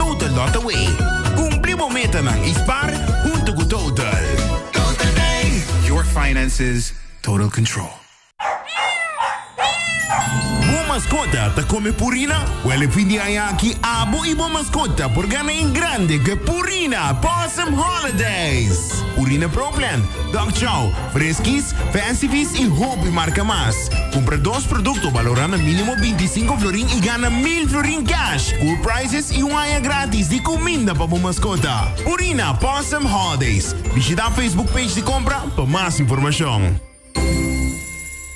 Total Lotaway. Cumpli bo metanan y spar hunto cu Total. Total Day. Your finances total control. Bo mascota ta come purina? Wel e fin di aña aki abo y bo mascota por gana en grande cu e Purina Possum Holidays. Purina Pro Plan, Dog Chow, Freskis, Fancyfeast i hopi marka mas. Kumpra dos produkto balorá na mínimo binti sinku florin i gana mil florin cash, cool prizes i un aña grátis di kuminda pa bo maskota. Purina Possum Holidays. Bishitá Facebook page di kompra pa mas informashon.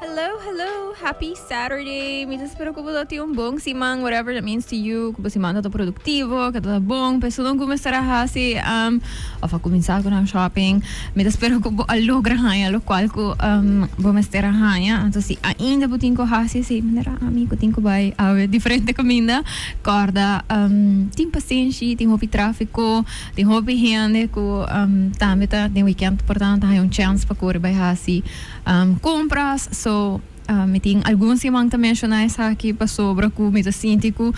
Hello, hello, happy Saturday. Mi ta spera cu bo ta tin un bon siman, whatever that means to you, cu bo siman ta ta productivo, cu ta ta bon, pe esun cumestar a haci, um, of a cuminsa cu nan shopping. Mi ta spera cu bo a logra haya locual cu um, bo mester a haya. Anto si ainda bo tin cu haci, si manera ami cu tin cu bay awe diferente caminda, corda, um, tin pasenshi, tin hopi trafico, tin hopi hende cu um, tambe ta den weekend, portanto ta haya un chance pa cori bay haci. compras so mi tin algun siman ta menciona esaki pasobra cu mi ta sinti cu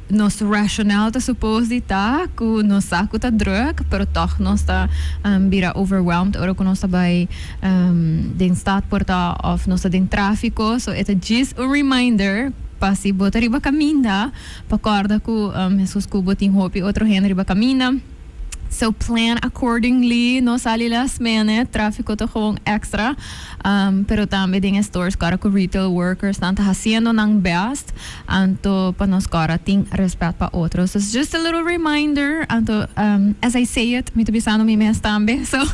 nos rational ta suppose di ta cu nos sa cu ta drug pero toch nos ta bira overwhelmed ora cu nos ta bay den stad por ta of nos ta den trafico so e ta djis un reminder pa si bo ta riba caminda pa corda cu mescos cu bo tin hopi otro hende riba caminda. So plan accordingly, no sali last minute, trafiko ta gewoon extra. Um, pero tambe den e stores ku ara ku retail workers nan ta haciendo nan best, anto pa nos ku ara tin respet pa otros. So just a little reminder, anto um, as I say it, mi ta bisando mi mes tambe, so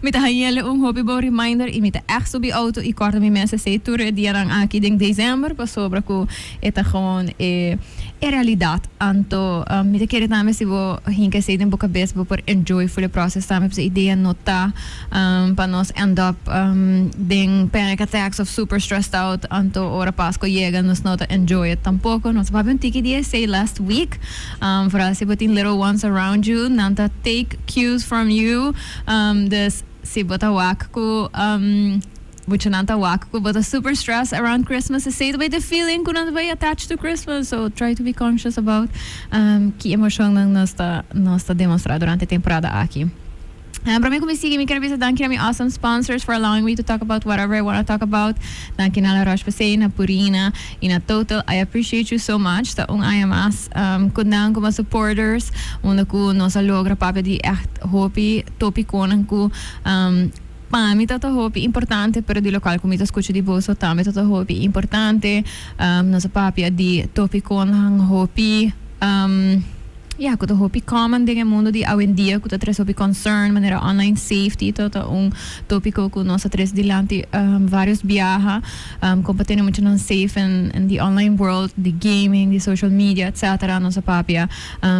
mi ta hañele un hopi bon reminder y mi ta echt subi auto y kòrta mi mes esei tur e dianan aki den December, pasobra ku. E ta gewoon e e realidad. Anto mi ta kere tambe si bo hinka esey den bo cabes bo por enjoy full e proces tambe pasobra idea no ta pa nos end up den panic attacks of super stressed out anto ora Pascua yega nos no ta enjoy it tampoco. Nos a papia un tiki di esey last week. Vooral si bo tin little ones around you nan ta take cues from you. Dus si bo ta wak cu Muchanan ta wak cu bo ta super stress around Christmas, esey ta bay den feeling cu nan ta bay attached to Christmas. So try to be conscious about ki emocionnan nos ta nos ta demonstra durante e temporada aki. Prome cu mi sigui, mi ker bisa danki na mi awesome sponsors for allowing me to talk about whatever I wanna talk about. Danki na La Roche Posay, na Purina y na Total. I appreciate you so much. Ta un aña mas cu nan como supporters unda cu nos a logra papia di echt hopi topiconan cu. Pa mi ta ta hopi importante pero di local cu mi ta scucha di boso tambe ta ta hopi importante nos a papia di topicon-han hopi ya cu ta hopi common den e mundo di awendia cu ta tres hopi concern manera online safety ta ta un topico cu nos a tres dilanti varios biaha con pa tene mucha nan safe en en di online world di gaming di social media etc nos a papia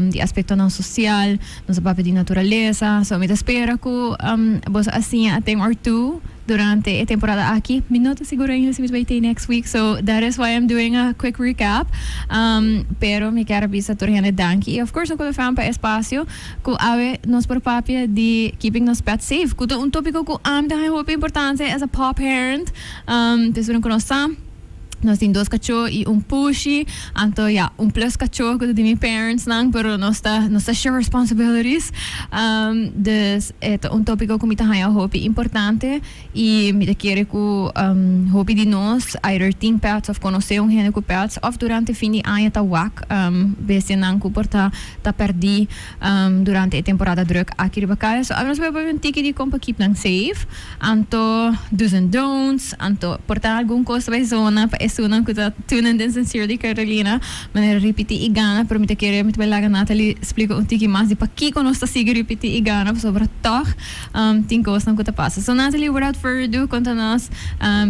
di aspectonan social. Nos a papia di naturalesa, so mi ta spera cu boso a siña aten or tu durante e temporada aki. Mi no ta seguro ainda si mi ta bay tei next week, so that is why I'm doing a quick recap. Pero mi ker a bisa tur hende danki y of course Hoek van der Faan pa e espacio cu awe nos por papia di keeping nos pets safe, cu ta un topico cu ami ta haña hopi importancia as a paw parent, p'esuna cu nos ta. Nos tin dos cachó y un pushi. Anto ya, un plus cachó cu ta di mi parents nan, pero nos ta, nos ta share responsibilities. Um, dus e ta un topico cu mi ta haya hopi importante y mi ta kere cu, um, hopi di nos either tin pets of conoce un hende cu pets of durante fin di aña ta wak, um, bestianan cu por ta, ta perdi, um, durante e temporada druk aki riba kaya. So, a menos bo a pone un tiki di con pa keep nan safe. Anto do's en don'ts, anto por ta algun cos bai zona pa esunnan cu ta tunen den Sincerely Carolina. Manera ripiti y gana pero mi ta kere mi ta bai laga Nathalie splica un tiki mas di pakico nos ta sigui ripiti y gana pasobra tog tin cosnan cu ta pasa. So Nathalie without further ado conta nos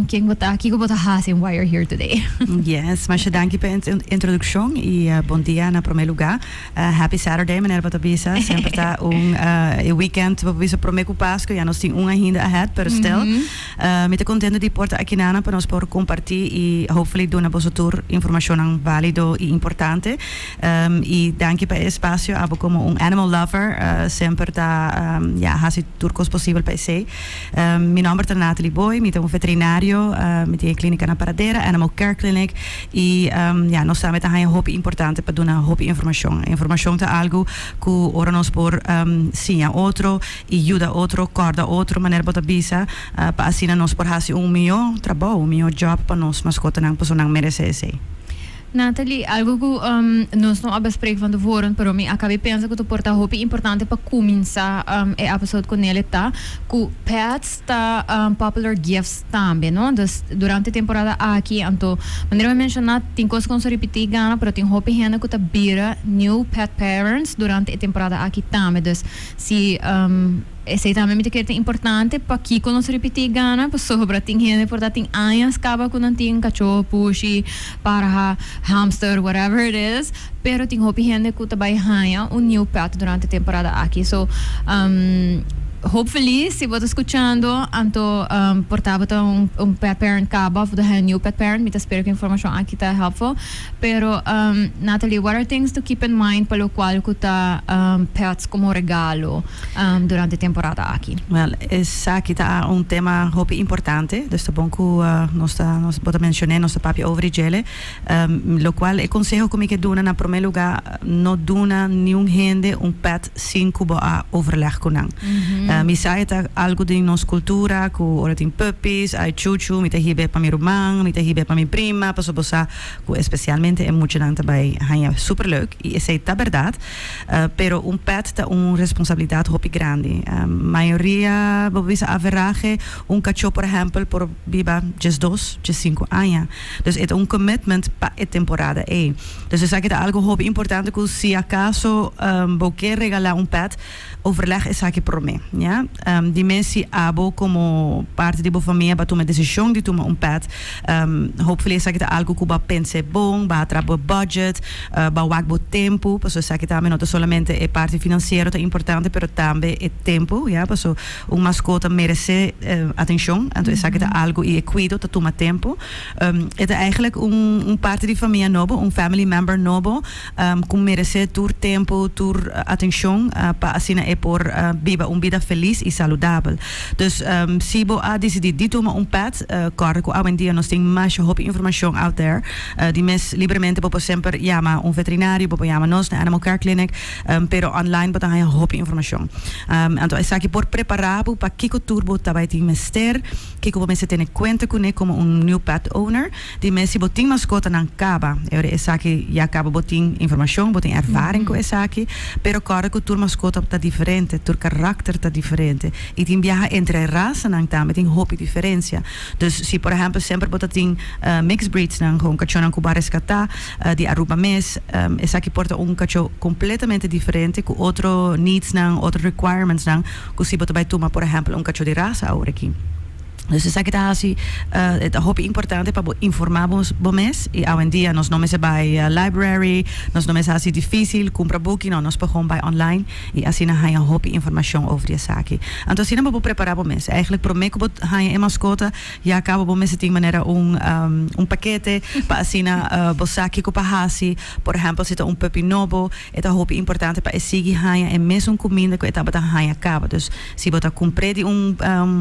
ken bo ta, kico bo ta haci en why you're here today. Yes, masha danki pa e introduccion y bon dia na prome luga. Happy Saturday manera pa ta bisa semper ta un e weekend bo por bisa prome ku Pasko ya nos tin un ainda ahead pero still mi ta kontento di por ta aki nan pa nos por komparti i hopefully duna boso tur informashonnan balido i importante i danki pa e espasio abo komo un animal lover semper ta hasi tur kos posibel pa esei. Mi nomber ta Nathalie Booi, mi ta un veterinario, mi tin e clinica na Paradera, Animal Care Clinic, y ya, nos sabi ta haña hopi importante pa duna hopi informacion. Informacion ta algo cu ora nos por siña otro y yuda otro, corda otro manera bo ta bisa, pa asina nos por haci un mihó trabou, un mihó job pa nos mascotanan, pasobra nan merece esey. Nathalie, Algo cu nos no a bai sprek van tevoren, pero mi a cabe pensa cu ta por ta hopi importante pa cuminsa e episode cu Nele ta cu pets ta popular gifts tambe, no? Dus durante e temporada aki, anto manera mi a menciona tin cos cu nos a ripiti gana, pero tin hopi hende cu ta bira new pet parents durante e temporada aki tambe. Dus si Esei tambe mi ta kere ta importante. Pakiko nos ripití gana? Pasobra tin hende por ta tin añas kaba ku nan tin kachó, pushi, parha, hamster, whatever it is, pero tin hopi hende ku ta bai haña un niu pèt durante e temporada aki. So, hopefully si bo ta skuchando anto por ta bo ta un un pet parent kaba òf bo ta haña un niu pet parent, mi ta spera ku e informashon aki ta hèlpful. Pero, Natalie, what are things to keep in mind pa locual cu ta pets como regalo durante e temporada aki? Wel, esaki ta un tema hopi importante, dus ta bon cu nos ta, bo ta mencion'é, nos ta papia over di djele, locual e conseho cu mi ke duna na prome lugar, no duna niun hende un pet sin ku bo a overleg ku nan. Mi sa e ta algu den nos kultura ku ora tin puppies, ai chuchu, mi ta hib'e pa mi ruman, mi ta hib'e pa mi prima, paso bo sa ku espesialmente e muchanan ta bai haña super leuk i esei ta bèrdat. Pero un pèt ta un responsabilidat hopi grandi. Mayoria bo bisa averahe un kachó por ehèmpel por biba djesdos, djesinku aña. Dus e ta un commitment pa e temporada ei. Dus esaki ta algo hopi importante ku si akaso bo ke regalá un pèt, overleg esaki promé. Ya. Dime si abo komo parti di bo famia a tuma e desishon di tuma un pèt. Hopefully esaki ta algo ku bo a pens'é bon, bo a tra bo budget, bo a wak bo tempu, paso esaki tambe no ta solamente e parti finansiero ta importante pero tambe e tempu, ya, paso un maskota meresé atenshon, anto esaki ta algo i e kuido ta tuma tempu. E ta eigenlijk un parti di famia nobo, un family member nobo ku merese tur tempu, tur atenshon pa asina e por biba un bida felis i saludabel. Dus si bo a disidí di tuma un pet, kòrda ku awendia nos tin masha hopi informashon out there di mes libremente. Bo por semper yama un veterinario, bo por yama nos na Animal Care Clinic, pero online bo ta haña hopi informashon. Anto esaki por prepará bo pa kiko tur bo ta bai tin mester. Kiko bo mester tene kuenta kuné komo un niu pet owner? Dime si bo tin maskotanan kaba. Ora esaki ya kaba bo tin informashon, bo tin ervaring ku esaki. Pero kòrda ku tur maskota ta diferente, tur karakter ta diferente i tin biaha entre rasanan tambe tin hopi diferensia. Dus si por ehèmpel semper bo ta tin mixed breedsnan, hon kachónan ku bo a reskatá di Aruba mes, esaki por ta un kachó kompletamente diferente ku otro needsnan, otro requirementsnan. Cu si bo ta bay tuma por ehempel un cacho di raza awe aki. Dus esaki ta haci ta hopi importante pa bo informa bo mes y awendia nos no mester bay library, nos no mester haci dificil cumpra buki, no nos por gewoon bay online y asina haya hopi informacion over di esaki. Anto asina bo por prepara bo mes. Eigenlijk prome cu bo haya e mascota ya cabo bo mester tin manera un un paquete pa asina bo sa kico pa haci, por ehempel si ta un puppy nobo E ta hopi importante pa e sigui haña e mesun kuminda ku e tabata haña kaba. Dus si bo ta kumpr'é di un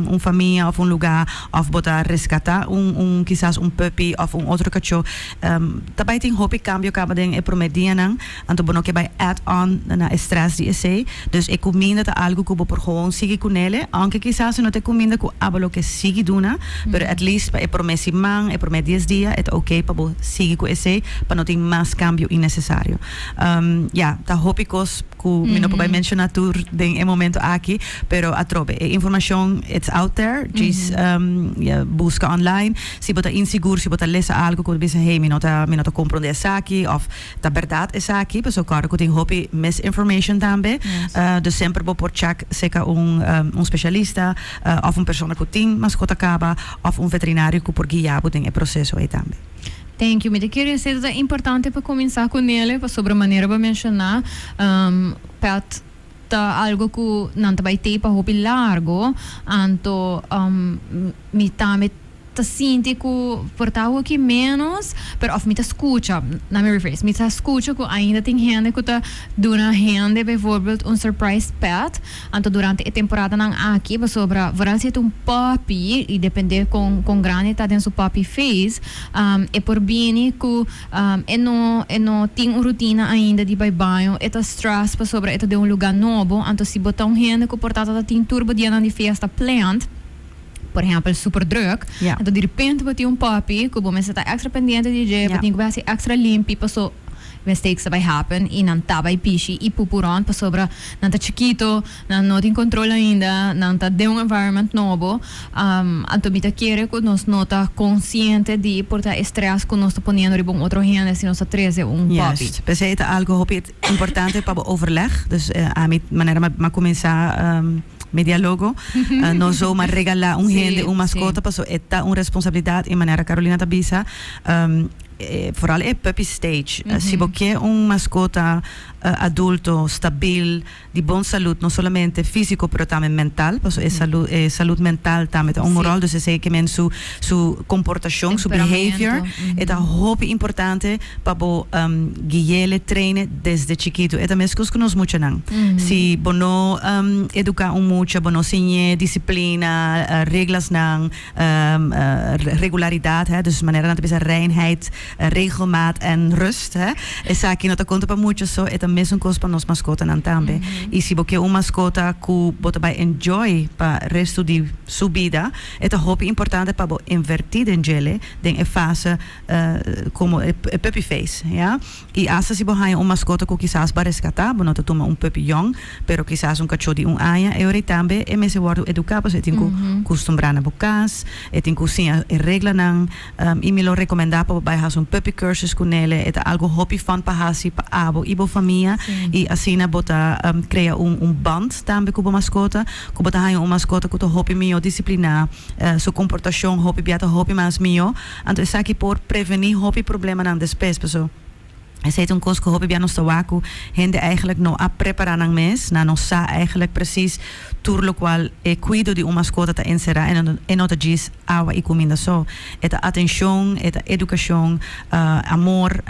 un famia òf un lugá òf bo ta reskatá un un kisas un puppy òf un otro kachó ta bai tin hopi kambio kaba den e promé dianan, anto bo no ke bai add on na e strès di esei. Dus e kuminda ta algu ku bo por gewoon sigui ku nele, ounke kisas e no ta e kuminda ku abo lo ke sigui duna, pero at least pa e promé siman, e promé dies dia e ta oke pa bo sigui ku esei pa no tin mas kambio innesesario. Ya, ta hopi kos ku mi no por bai menshona tur den e momento aki, pero atrobe e informashon it's out there, djis buska online. Si bo ta insigur, si bo ta lesa algu ku bo ta bisa hey mi no ta mi no ta komprondé esaki òf ta bèrdat esaki, pasobra kòrda ku tin hopi misinformation tambe, dus semper bo por chèk seka un un spesialista òf un persona ku tin maskot a kaba òf un veterinario ku por guia bo den e proseso ei tambe. Thank you. Mi ta kere sedu ta importante pa kuminsá ku Nele pasobra manera bo a menshoná pèt ta algu ku nan ta bai tei pa hopi largu. Anto mi tambe ta sinti ku por ta hoki ménos pero òf mi ta skucha, let me rephrase, mi ta skucha ku ainda tin hende ku ta duna hende, bijvoorbeeld un surprise pèt. Anto durante e temporadanan aki pasobra Francia ta un poppy y depende con con grandi ta den su poppy phase e por bini cu e no e no tin un rutina ainda di bay baño e ta stress pasobra e ta den un lugar nobo anto si bo ta un hende cu por ta ta tin tur bo dianan di fiesta plant por ehempel Superdrug, Ya. enton direpente bo tin un puppy cu bo mester ta extra pendiente di dje, bo Ya. tin cu bai haci extra limpi paso mistakes ta bai happen y nan ta bai pishi y pupu rond pasobra nan ta chikito, nan no tin control ainda, nan ta den un environment nobo, am, anto mi ta kere cu nos no ta consciente di porta e stress cu nos ta poniendo riba un otro hende si nos ta trece un puppy. Juist, p'esei ta algo hopi Importante pa bo overleg, dus ami manera mi a kuminsá mi dialogo, no so ma regalá un hende un maskota, pasobra e ta un responsabilidat i manera Carolina ta bisa, foral e puppy stage, si bo ke un maskota adulto, stabil. di bon salud no solamente físiko pero tambe mental paso e salu e salud mental tambe ta un ròl dus esei ke men su su komportashon su behavior e ta hopi importante pa bo guiele treine desde chikitu e ta meskos ku nos muchanan si bo no eduká un mucha bo no siñ'é disiplina reglasnan. regularidad, dus manera nan ta bisa reinheid, regelmaat en rust. Esaki no ta konta pa mucho, so e ta mesun kos pa nos maskotanan tambe. I si bo ke un maskota ku bo ta bai enjoy pa restu di su bida, e ta hopi importante pa bo invertí den djele den e fase komo e puppy phase. I asta si bo haña un maskota ku kisas bo a reskatá, bo no ta tuma un puppy yòn, pero kisas un kachó di un aña. E orei tambe e mester wòrdu eduká pasobra e tin ku kustumbrá na bo kas, e tin ku siña e reglanan. I mi lo rekomendá pa bo bai hasi un puppy cursus ku Nele. E ta algu hopi fòn pa hasi pa abo i bo famia i asina bo ta krea un band tambe ku bo maskota. Ku bo ta haña un maskota ku ta hopi mihó disipliná, su komportashon hopi bia ta hopi mas mihó. Anto esaki por preveni hopi problemanan despues, paso esei ta un kos ku hopi bia nos ta wak ku hende eigenlijk no a prepará nan mes, nan no sa eigenlijk presis tur lokual e kuido di un maskota ta enserá, e no ta djis awa i kuminda so, e ta atenshon, e ta edukashon, amor,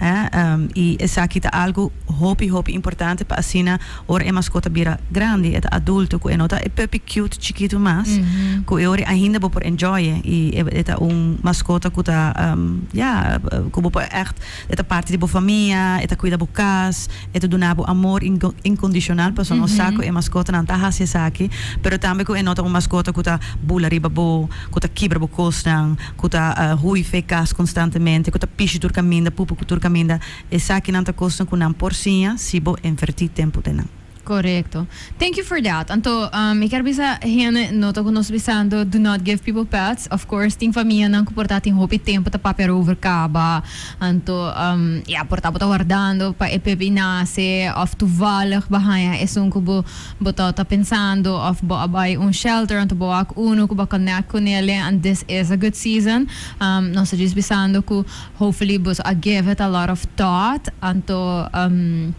i esaki ta algu hopi hopi importante pa asina. Ora e maskota bira grandi e ta adulto ku e no ta e puppy cute chikitu mas ku e ora ainda bo por enjoy e i e ta un maskota ku ta ya ku bo por ègt e ta parti di bo famia e ta kuida bo kas e ta duna bo amor inkondishonal pasobra nos sa ku e maskotanan ta hasi esaki pero tambe ku e no ta un maskota ku ta bula riba bo ku ta kibra bo kosnan ku ta hui fe e kas konstantemente ku ta pishi tur kaminda pupu tur kaminda. Esakinan ta kosnan ku nan por siña si bo envertí tempu den nan. Korekto. Thank you for that. Anto, mi ker bisa hende no ta ku nos bisando do not give people pets. Of course tin famianan ku por ta tin hopi tempu ta papia arover kaba. Anto, ya, por ta bo ta wardando pa e pepí nase òf tuvallig bo haña esun ku bo bo ta ta pensando òf bo a bai un shelter anto bo wak unu ku bo a connect ku nele and this is a good season. Nos ta djis bisando ku. Hopefully boso a give it a lot of thought anto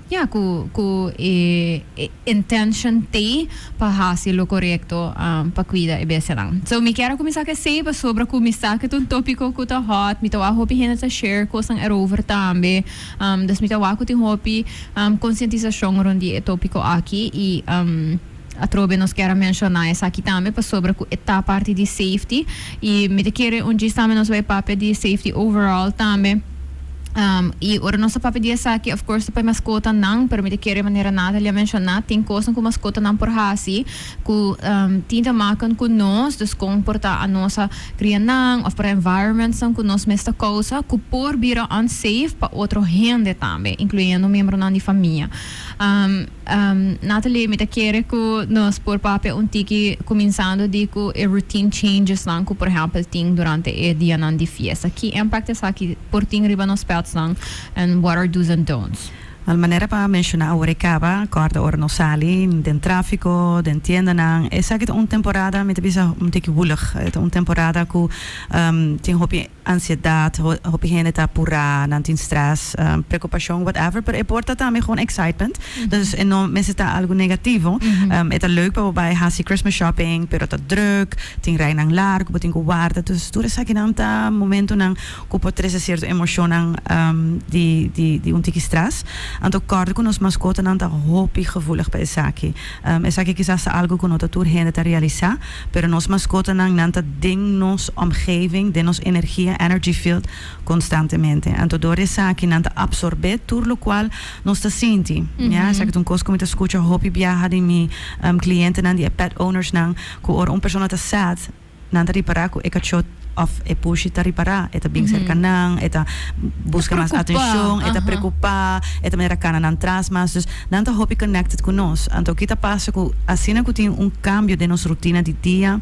ya cu cu e intention t'e pa haci lo corecto pa cuida e bestianan. So mi kier a cuminsa cu esey pasobra cu mi sa cu t'e un topico cu ta hot, mi ta wak hopi hende ta share cosnan erover tambe, dus mi ta wak cu tin hopi conscientisacion rond di e topico aki y. Atrobe nos kier a menshona esaki tambe pasobra ku e ta parti di safety i mi ta kere un djis tambe nos bai papia di safety overall tambe i ora nos ta papia di esaki of course ta pa e maskotanan pero mi ta kere manera Nathalie a menshona tin kosnan ku maskotanan por hasi ku tin ta maken ku nos dus kon por ta anos a kria nan of para environmentsnan ku nos mes ta kousa ku por bira unsafe pa otro hende tambe incluyendo miembronan di famia. Natalie, mi ta kere ku nos por papia un tiki kuminsando di ku e routine changesnan ku por ehèmpel tin durante e dianan di fiesta. Ki impact esaki por tin riba nos pètsnan and what are dos and don'ts? Well, manera pa menshoná awor e kaba, kòrda ora nos sali den tráfiko, den tiendanan. Esaki ta un temporada, mi ta bisa, un tiki wùlig. Ta un temporada ku tin hopi. ansiedad, hopi hende ta apurá, nan tin stress, preokupashon, whatever, pero e por ta tambe gewoon excitement, dus e no mester ta algu negativo. E ta leuk pa bo bai hasi Christmas shopping, pero ta drùk, tin reinan largu ku bo tin ku warda, dus tur esakinan ta momentunan ku por trese sierto emoshonnan di di un tiki stress. Anto kòrda ku nos maskotanan ta hopi gevoelig pa esaki. Esaki kisas ta algu ku no ta tur hende ta realisá. Pero nos maskotanan, nan ta den nos omgeving, den nos energia, energy field, konstantemente. Anto dor di esaki nan ta apsorbé tur lokual nos ta sinti. Mia, esaki ta un kos ku mi ta skucha hopi biaha di mi klientenan di e pet ownersnan, ku ora un persona ta sad, nan ta ripará ku e kachó Of e pushi ta ripará, e ta bin serka nan, e ta buska mas atenshon, e ta prekupá, e ta manera kana nan tras mas. Dus nan ta hopi connected ku nos. Anto ki ta pasa ku asina ku tin un kambio den nos rutina di dia,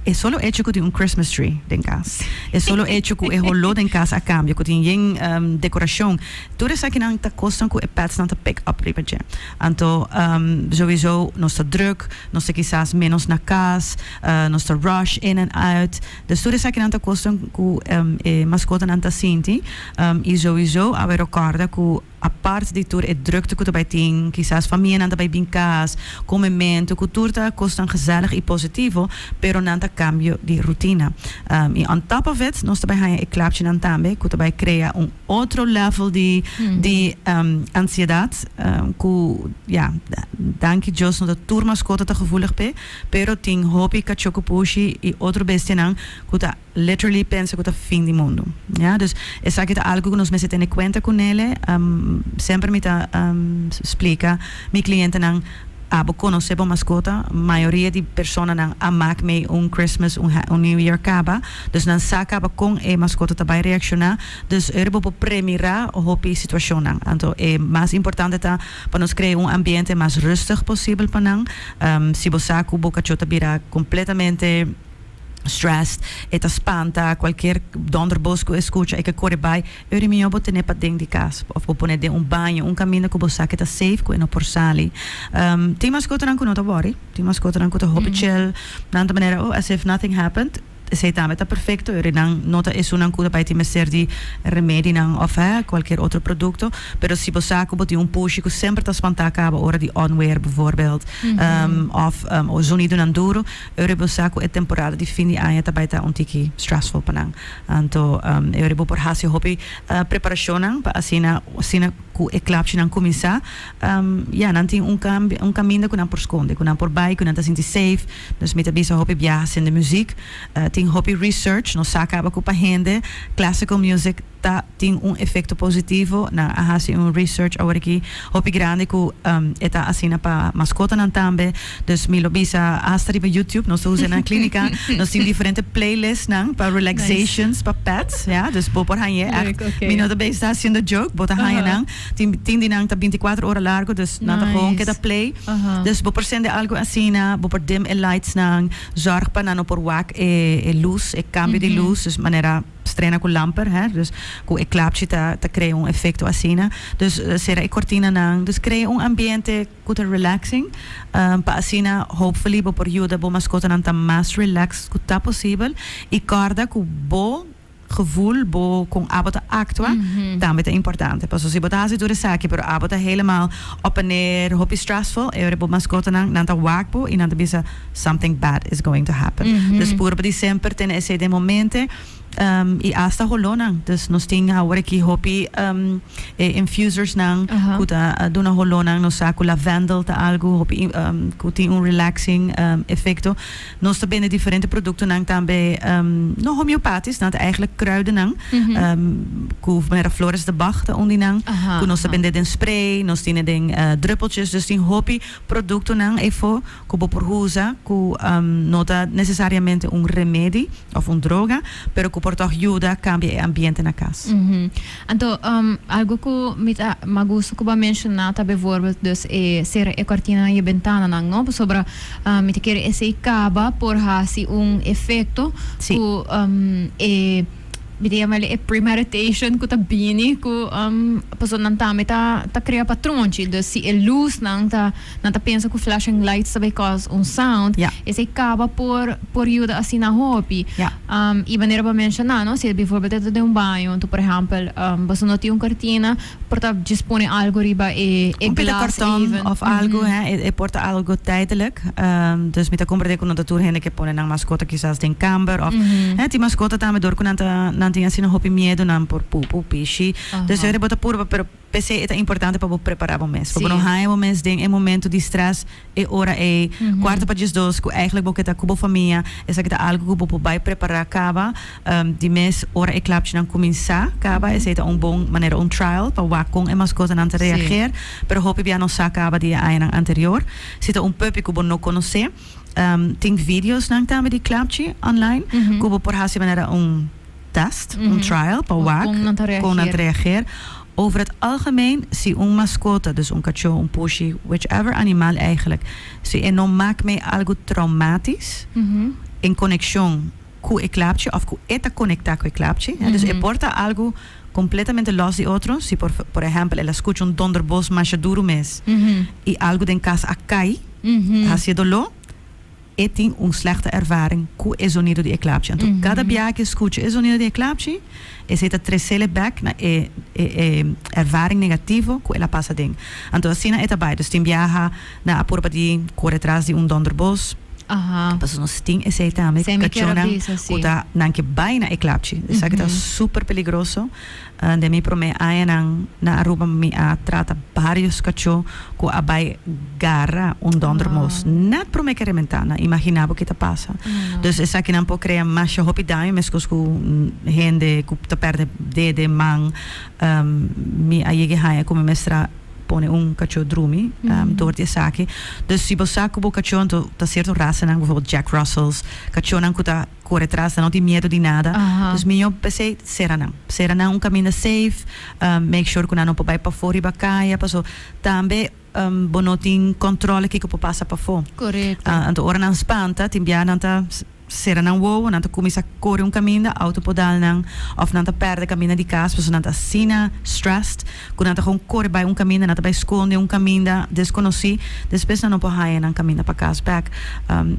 e solo echo ku tin un Christmas tree den kas, e solo echo ku e holó den kas a kambia, ku tin yen dekorashon, tur esakinan ta kosnan ku e pètsnan ta pick up riba dje. Anto, Sowieso nos ta drùk, nos ta kisas ménos na kas, nos ta rush in en uit. Dus tur esakinan ta kosnan ku e maskotanan ta sinti. I sowieso a bai ròkòrda ku apart di tur e drùkte ku ta bai tin, kisas famianan ta bai bin kas, kome mentu, ku tur ta kosnan gesèlig i positivo, pero nan ta kambio di rutina. I on top of it, nos ta bai haña e klapchinan tambe ku ta bai krea un otro lèvel di ansiedat. Ku ya, danki Dios no ta tur maskota ta gevoelig p'e, pero tin hopi kachó ku pushi i otro bestianan ku ta literally pensa ku ta fin di mundu. Ya, dus esaki ta algu ku nos mester tene kuenta ku nele. Semper mi ta splika mi klientenan, a bo konosé bo maskota? Mayoria di personanan a mak mei un Christmas, un New Year kaba, dus nan sa kaba kon e maskota ta bai reakshoná. Dus ora bo por premirá hopi situashonnan. Anto e mas importante ta pa nos krea un ambiente mas rùstig posibel pa nan. Si bo sa ku bo kachó ta bira kompletamente stressed, e ta spanta, kualkier dònderbos ku e skucha e ke kore bai, ora mihó bo ten'é paden di kas òf bo pon'é den un baño, un kaminda ku bo sa ke ta safe, ku e no por sali. Tin maskotanan ku no ta wòri. Tin maskotanan ku ta hopi chel. Nan ta manera, oh, as if nothing happened. Esei tambe ta perfecto, ora nan no ta esunnan cu ta bay tin mester di remedinan of he, cualkier otro producto, pero si bo sa cu bo tin un pushi cu semper ta spanta caba ora di onweer bijvoorbeeld, of o zonidonan duro, ora bo sa cu e temporada di fin di aña ta bay ta un tiki stressful pa nan, anto e ora bo por haci hopi preparacionnan pa asina asina cu e klapshinan cuminsa, ya, nan tin un cambio, un caminda cu nan por sconde, cu nan por bay, cu nan ta sinti safe. Nos mi ta bisa hopi biaha sin di muziek. Tin hopi research nos sa caba cu pa hende classical music ta tin un efecto positivo. Nan a haci un research aworaki hopi grandi cu e ta asina pa mascotanan tambe. Dus mi lo bisa hasta riba YouTube. Nos ta usa e na clinica. Nos tin diferente playlistnan pa relaxations, pa pets. Ya, dus bo por hanja e act. Mi no ta bezig ta haciendo joke, bo ta hanja nan. Tin tin di nan ta binticuatro ora largo dus nan ta gewoon keda play. Dus bo por sende algo asina, bo por dim e lightsnan, zorg pa nan no por wak e e luz, e cambio di luz, dus manera strena cu lamper, hè, dus cu e klapchi ta ta crea un efecto asina. Dus cera e cortinanan, dus crea un ambiente cu ta relaxing, pa asina hopefully bo por yuda bo mascotanan ta mas relaxed cu ta posibel y corda cu bo. gevoel bo con abo ta actua tambe ta importante paso si bo ta haci tur esaki pero abo ta helemaal op en neer hopi stressful e ora bo mascotanan nan ta waak bo y nan ta bisa something bad is going to happen dus puro pa di semper tene esey den momente y hasta holonan dus nos tin aworaki hopi e infusers nan cu ta duna holonan nos sa cu lavendel ta algo hopi cu tin un relaxing efecto Nos ta bende diferente produktonan tambe no homeopatisch, nan ta eigenlijk kruidennan ku mero flores de Bach ta un di nan ku nos ta bende den spray, nos tine den druppeltjes, dus tin hopi produktonan efo ku bo por usa ku no ta nesesariamente un remedi òf un droga pero ku por tòg yuda kambia e ambiente na kas. Anto, algu ku mi ta magustu ku bo a menshoná ta bevoorbeeld dus e sera e kòrtinanan i e bentananan, no? Pasobra mi ta kere esei kaba por hasi un efekto ku e, mi ta yama el e premeditation ku ta bini ku pasobra nan tambe ta ta krea patronchi. Dus si e lusnan ta, nan ta pensa ku flashing lights ta bai kos un sound, esei kaba por por yuda asina hopi. Y manera bo a mencioná no, si bivoorbeeld e ta den un baño, enton por ehempel boso no tin un cortina, por ta djis pone algo riba e glas even. Un pita karton of algo he, e por ta algo tijdelijk. Dus mi ta komprendé ku no ta tur hende ke pone nan maskota kisas den kamber of he tin maskota tambe dor ku nan ta nan tin asina hopi miedonan por pupu, pishi. Dus yo kre bo ta purba pero. P'esei e ta importante pa bo prepará bo mes, pa bo no haña bo mes den e momentu di strès e ora ei, kuarta pa diesdos, ku eigelik bo ke ta ku bo famia. Esaki ta algu ku bo por bai prepará kaba di mes ora e klapchinan kuminsá kaba. Esei ta un bon manera, un trial, pa wak kon e maskotanan ta reageer. Pero hopi bia no sa kaba di e añanan anterior. Si ta un puppy ku bo no konosé, tin videosnan tambe di klapchi online ku bo por hasi manera un. test, un trial, pa wak kon nan ta reageer, kon nan ta reageer. Over het algemeen, si un mascota, dus un kachó, un pushi, whichever animal eigenlijk, si e no mak mee algo traumatisch in conection cu e klapchi of cu e ta conecta cu e klapchi, dus e por ta algo completamente los di otro, si por, por ehempel, el a scucha un donderbos masha duro mes y algo den cas a cay, hacié doló. E tin un slechte ervaring ku e zonido di e klapchi. Anto kada biaha ke skucha e zonido di e klapchi, esei ta tresel e bèk na e e ervaring negativo ku el a pasa den. Anto asina e ta bai. Dus tin biaha nan a purba di kore atras di un dònderbos. Pasobra nos tin esei tambe kachonnan ku ta nan ke bai na e klapchi. Esaki ta super peligroso. Den mi promé añanan na Aruba mi a trata barios kachó ku a bai garra un donder mos. Nèt promé kere mi ta na imaginá bo ke ta pasa. Dus esakinan por krea masha hopi daño meskos ku hende ku ta pèrdè dede, man. Mi a yeg'e haña ku mi mester pone un kachó drumi dor di esaki. Dus si bo sa ku bo kachó anto ta sierto rasanan, por ehompel Jack Russells, kachónan ku ta. Kore tras nan, no tin miedu di nada. Dus mihó p'esei sera nan. Sera nan un kaminda safe, make sure ku nan no por bai pafó riba kaya, paso tambe bo no tin kòntròle kiko por pasa pafó. Anto ora nan spanta, tin bia nan ta sera nan wowo, nan ta kuminsá kore un kaminda, outo por dal nan òf nan ta pèrdè kaminda di kas paso nan ta asina stressed. Cu nan ta con core bay un caminda, nan ta bay sconde un caminda desconoci, despues nan no por haya nan caminda pa cas back.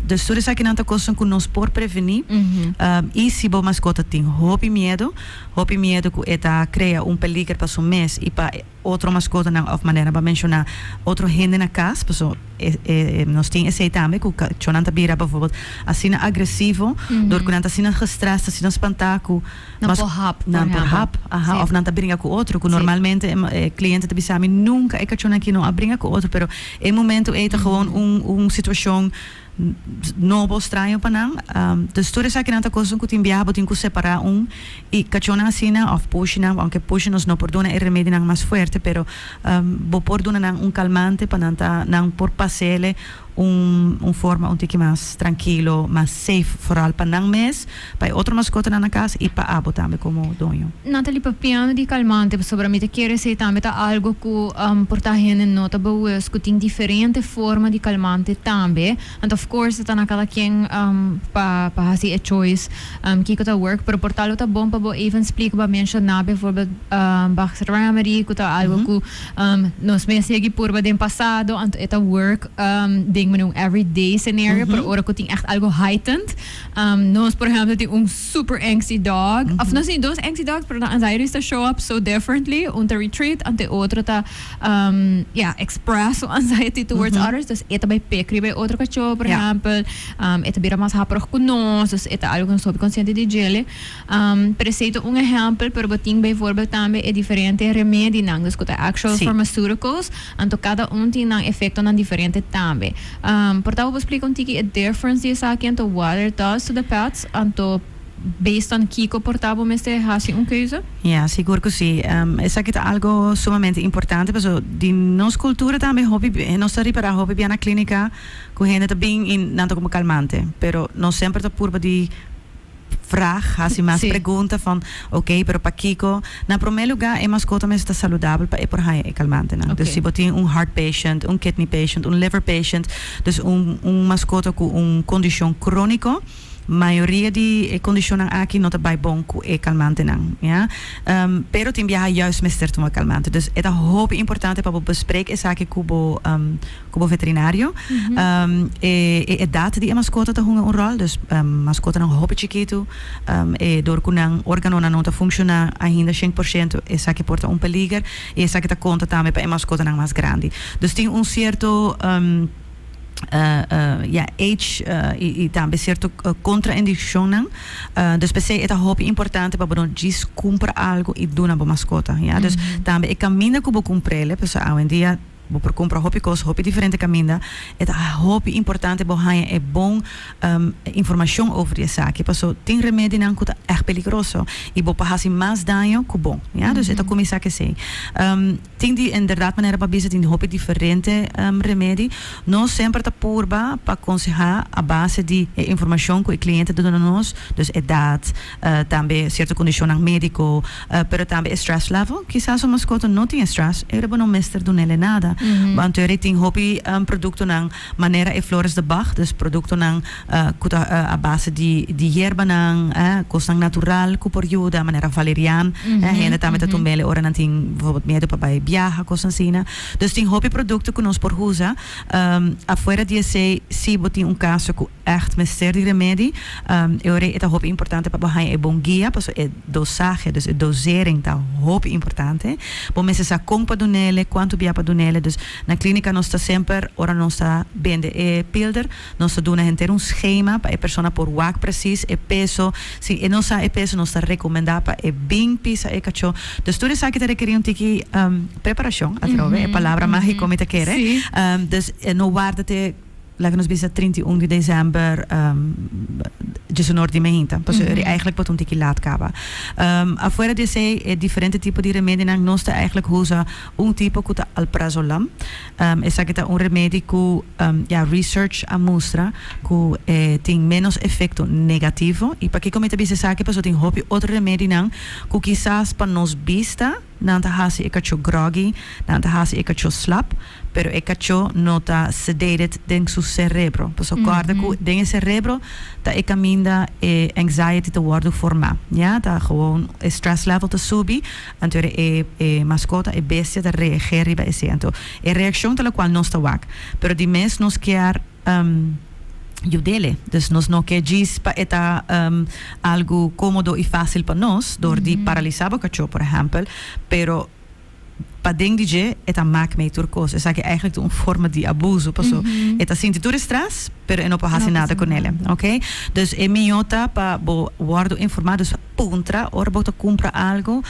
Dus tur esakinan ta cosnan cu nos por preveni. Y si bo mascota tin hopi miedo, hopi miedo cu e ta crea un peliger pa su mes y pa otro mascotanan of manera bo a menciona otro hende na cas, paso. nos tin esei tambe ku kachónan ta bira bivòrbèl asina agresivo dor ku nan ta asina gestrès, ta asina spantá ku nan por hap, nan por hap, aha, òf nan ta bringa ku otro ku normalmente e kliente ta bisa mi nunka e kachon aki no a bringa ku otro pero e momentu ei ta gewoon un un situashon nobo, straño pa nan, dus tur esaki nan ta kosnan ku tin biaha bo tin ku separá un. Y cachona asina of pushnan, aunke push nos no por duna e remedionan mas fuerte pero bo por duna nan un calmante pa nan ta nan por pasele un forma un tiki mas trankilo, mas safe foral pa nan mes, pa e otro mascotanan na cas y pa abo tambe como doño. Natalie, Papiando di calmante pasobra mi ta kere esey tambe ta algo cu por ta hende no ta bewust cu tin diferente forma di calmante tambe and of course ta na cada quien pa haci e choice. Um kiko ta work pero por tal lo ta bon pa bo even splica pa menciona bijvoorbeeld um Bach's Grammary cu ta algo cu um nos mes yegi purba den pasado anto e ta work um den mane un everyday scenario pero ora cu tin echt algo heightened um nos por ehemplo tin un super angsty dog of nos tin dos angsty dogs pero nan anxiety ta show up so differently un ta retreat anto e otro ta ya, express su anxiety towards others. Dus e ta bai pek riba e otro kachó, por ehèmpel. E ta bira mas haporog ku nos, dus e ta algu ku nos hopi konsiente di djele. Pero esei ta un ehèmpel, pero bo tin beivoorbeeld tambe e diferente remedinan, dus ku ta actual pharmaceuticals. Anto kada un tin nan efektonan diferente tambe. Por tabata bo splika un tiki e difference di esaki entre water dust to the pets, anto. Based on kiko por ta bo mester hasi un keuze? Ya, sigur ku si. Esaki ta algu sumamente importante pasobra di nos kultura tambe hopi nos ta ripará hopi bia na klínika ku hende ta bin i nan ta kuma kalmante pero nos semper ta purba di frag hasi mas pregunta van okay pero pakiko. Na promé lugá e maskota mester ta saludabel pa e por haña e kalmantenan dus si bo tin un heart patient un kidney patient un liver patient dus un maskota ku un kondishon króniko. Mayoria di e kondishonnan aki no ta bai bon ku e kalmantenan, ya. Pero tin biaha yùis mester tuma kalmante. Dus e ta hopi importante pa bo besprek esaki ku bo ku bo veterinario. E e edat di e maskota ta hunga un ròl. Dus maskotanan hopi chikitu e dor ku nan organonan no ta funkshoná ainda shent por shento esaki por ta un peliger i esaki ta konta tambe pa e maskotanan mas grandi. Dus tin un sierto. ya, age i tambe sierto kontraindikshonnan. Dus p'esei e ta hopi importante pa bo no djis kumpra algu i duna bo maskota, ya. Dus tambe e kaminda ku bo kumpr'e, pasobra awendia bo por kumpra hopi kos hopi diferente kaminda, e ta hopi importante bo haña e bon informashon over di esaki, paso tin remedinan ku ta èg peligroso i bo por hasi mas daño ku bon, ya. Dus e ta kuminsá k'esei. Tin di enderdat manera pa bisa, tin di hopi diferente remedi. Nos semper ta purba pa konsehá a base di e informashon ku e kliente ta duna nos, dus edat, tambe sierto kondishonnan médiko, pero tambe e stress level. Kisas un maskota no tin e stress, e riba no mester dun'é nada. B'anto e tin hopi produktonan. Manera e flores de Bach, dus produktonan ku ta a base di yerbanan, kosnan natural ku por yuda, manera valerian, hende tambe ta tumb'el ora nan tin bvorbot miedu pa bai biaha, kos asina. Dus tin hopi produkto ku nos por usa. Afuera di esei si bo tin un kaso ku. ègt mester di remedi. E ora ei e ta hopi importante pa bo haña e bon guia, pasobra e dosahe, dus e dosering, ta hopi importante. Bo mester sa kon pa duna el'e, kuantu bia pa duna el'e. Dus na klínika nos ta semper, ora nos ta bende e pilder, nos ta duna henter un skema pa e persona por wak presis e peso. Si e no sa e peso, nos ta rekomendá pa e bin pisa e kachó. Dus tur esaki ta rekerí un tiki preparashon, atrobe e palabra mágiko mi ta kere. Dus no warda te Laga nos bisa trinta i un di desèmber djesunor di mehinta, pasobra ri eigentlik por ta un tiki lat kaba. Afuera di esei e diferente tipo di remedinan, nos ta eigentlik usa un tipo ku ta alprazolam. Esaki ta un remedi ku ya research a mustra ku e tin ménos efekto negativo. I pakiko mi ta bisa esaki? Pasobra tin hopi otro remedinan ku kisas pa nos bista. Nan ta hasi e kachó groggy, nan ta hasi e kachó slap, pero e kachó no ta sedated den su serebro. Paso kòrda ku den e serebro ta e kaminda e anxiety ta wòrdu formá, ya. Ta gewoon e stress level ta subi, anto e e maskota, e bestia ta reagé riba esei. Anto e reakshon ta lokual nos ta wak, pero di mes nos kier. Yu dele. Dus nos no ke djis pa e ta algu komodo i fásil pa nos dor di paralisá bo kachó, por ehèmpel, pero paden di dje e ta mak mei tur kos. Esaki èigelik ta un forma di abuso paso e ta sinti tur e strès pero e no por hasi nada ku nele, ok. Dus e mihó ta pa bo wòrdu informá, dus puntra ora bo ta kumpra algu.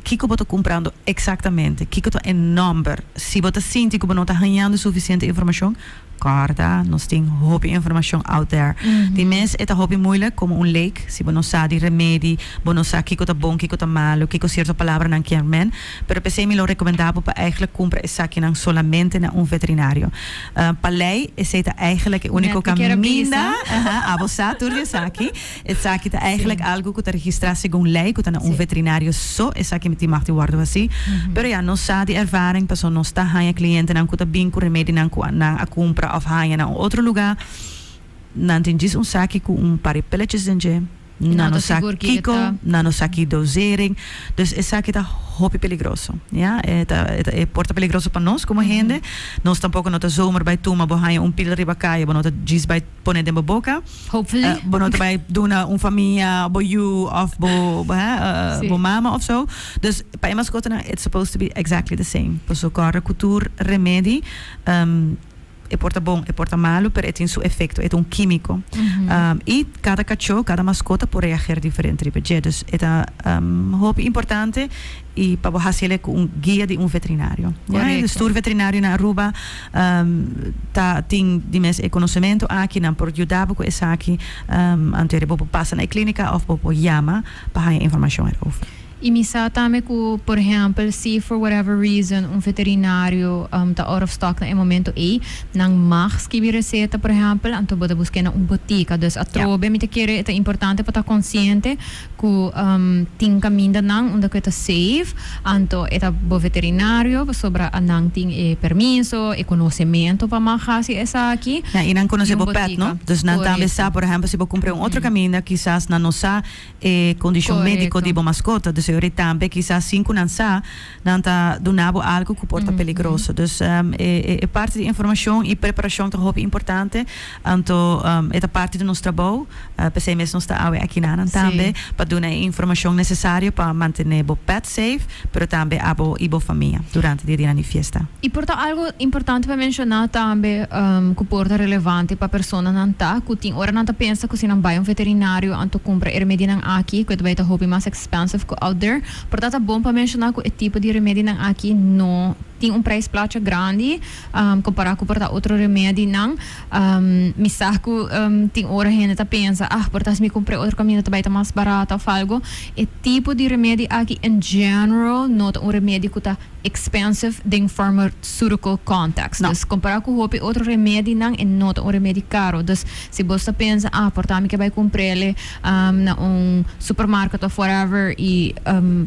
Kiko bo ta cumprando exactamente? Kiko ta e nomber? Si bo ta sinti cu bo no ta hañando suficiente informacion, corda, nos tin hopi informacion out there. Tin mes e ta hopi moeilijk, como un lake, si bo no sa di remedi, bo no sa kiko ta bon, kiko ta malo, kiko cierto palabranan kier men. Pero p'esey mi lo recomenda bo pa eigenlijk cumpra esakinan solamente na un veterinario. Pa ley, esey ta eigenlijk e unico caminda, abo sa tur di esaki. Esaki ta eigenlijk algu ku ta registrá segun lei ku ta na un veterinario so esaki tin mag di wòrdu hasí. Pero ya nos sa di ervaring pasobra nos ta haña klientenan ku ta bin ku remedinan ku nan a kumpra òf haña na un otro lugá. Nan tin djis un saki ku un par di pilleches den dje. Nan no sa kiko, nan no sa ki dosering. Dus esaki ta hopi peligroso, ya. E ta e por ta peligroso pa nos komo hende. Nos tampoko no ta zomaar bai tuma. Bo haña un pil riba kaya bo no ta djis bai pone den bo boka. Hopefully. Eh, bo no ta bai duna un famia bo yu of bo bo, hè, eh, Sí. bo mama of so. Dus pa e maskotanan it's supposed to be exactly the same. Paso kòrda ku tur remedi ehm e por ta bon e por ta malu pero e tin su efekto, e ta un kímiko. Ehm i kada kachó, kada maskota por reager diferente riba dje. Dus e ta ehm hopi importante. y pa bo haci ele cu un guia di un veterinario. Correcto. Stuur veterinario na Aruba ta tin di mes e conocemento aki nan por yuda bo cu esaki anto ere bo por pasa na e clinica of bo por yama pa haya informacion erover. Y mi sa tambe cu por ehempel si for whatever reason un veterinario ta out of stock na e momento ey nan mag skibi receta por ehempel anto bo ta busca na un botica. Dus atrobe mi ta kere e ta importante pa ta consciente Cu tin caminda nan unda cu e ta safe, anto e ta bo veterinario pasobra a nan tin e permiso, e conocemento pa mag haci esaki. Ja, y nan conoce bo pet, no? Dus nan tambe sa, por ehemplo, si bo cumpra un otro caminda, kisas nan no sa e condicion medico di bo mascota. Dus eori tambe, kisas sin cu nan sa, nan ta duna bo algo cu por ta peligroso. Dus e parte di informacion y preparacion ta hopi importante. Anto e ta parti di nos trabou, p'esei mes nos ta awe aki na nan tambe pa duna e informashon nesesario pa mantené bo pèt seif, pero tambe abo i bo famia durante di dianan di fiesta. I por ta algu importante pa menshoná tambe ku por ta relevante pa personanan ta ku tin ora nan ta pensa ku si nan bai un veterinario anto kumpra e remedinan aki ku e ta bai ta hopi mas expensive ku outder. Por ta ta bon pa menshoná ku e tipo di remedinan aki no tin un preis placha grandi. Compará cu por ta otro remea di nan. Mi sa cu tin ora hende ta pensa, ah, por ta haci mi cumpre otro camino ta bay ta mas barata of algo. E tipo di remedi aki in general no ta un remedi cu ta expensive den pharmaceutical context. Dus, compará cu hopi otro remedinan e no ta un remedi caro. Dus, si bos ta pensa, ah, por ta mi ke bay cumprele na un supermarket of whatever y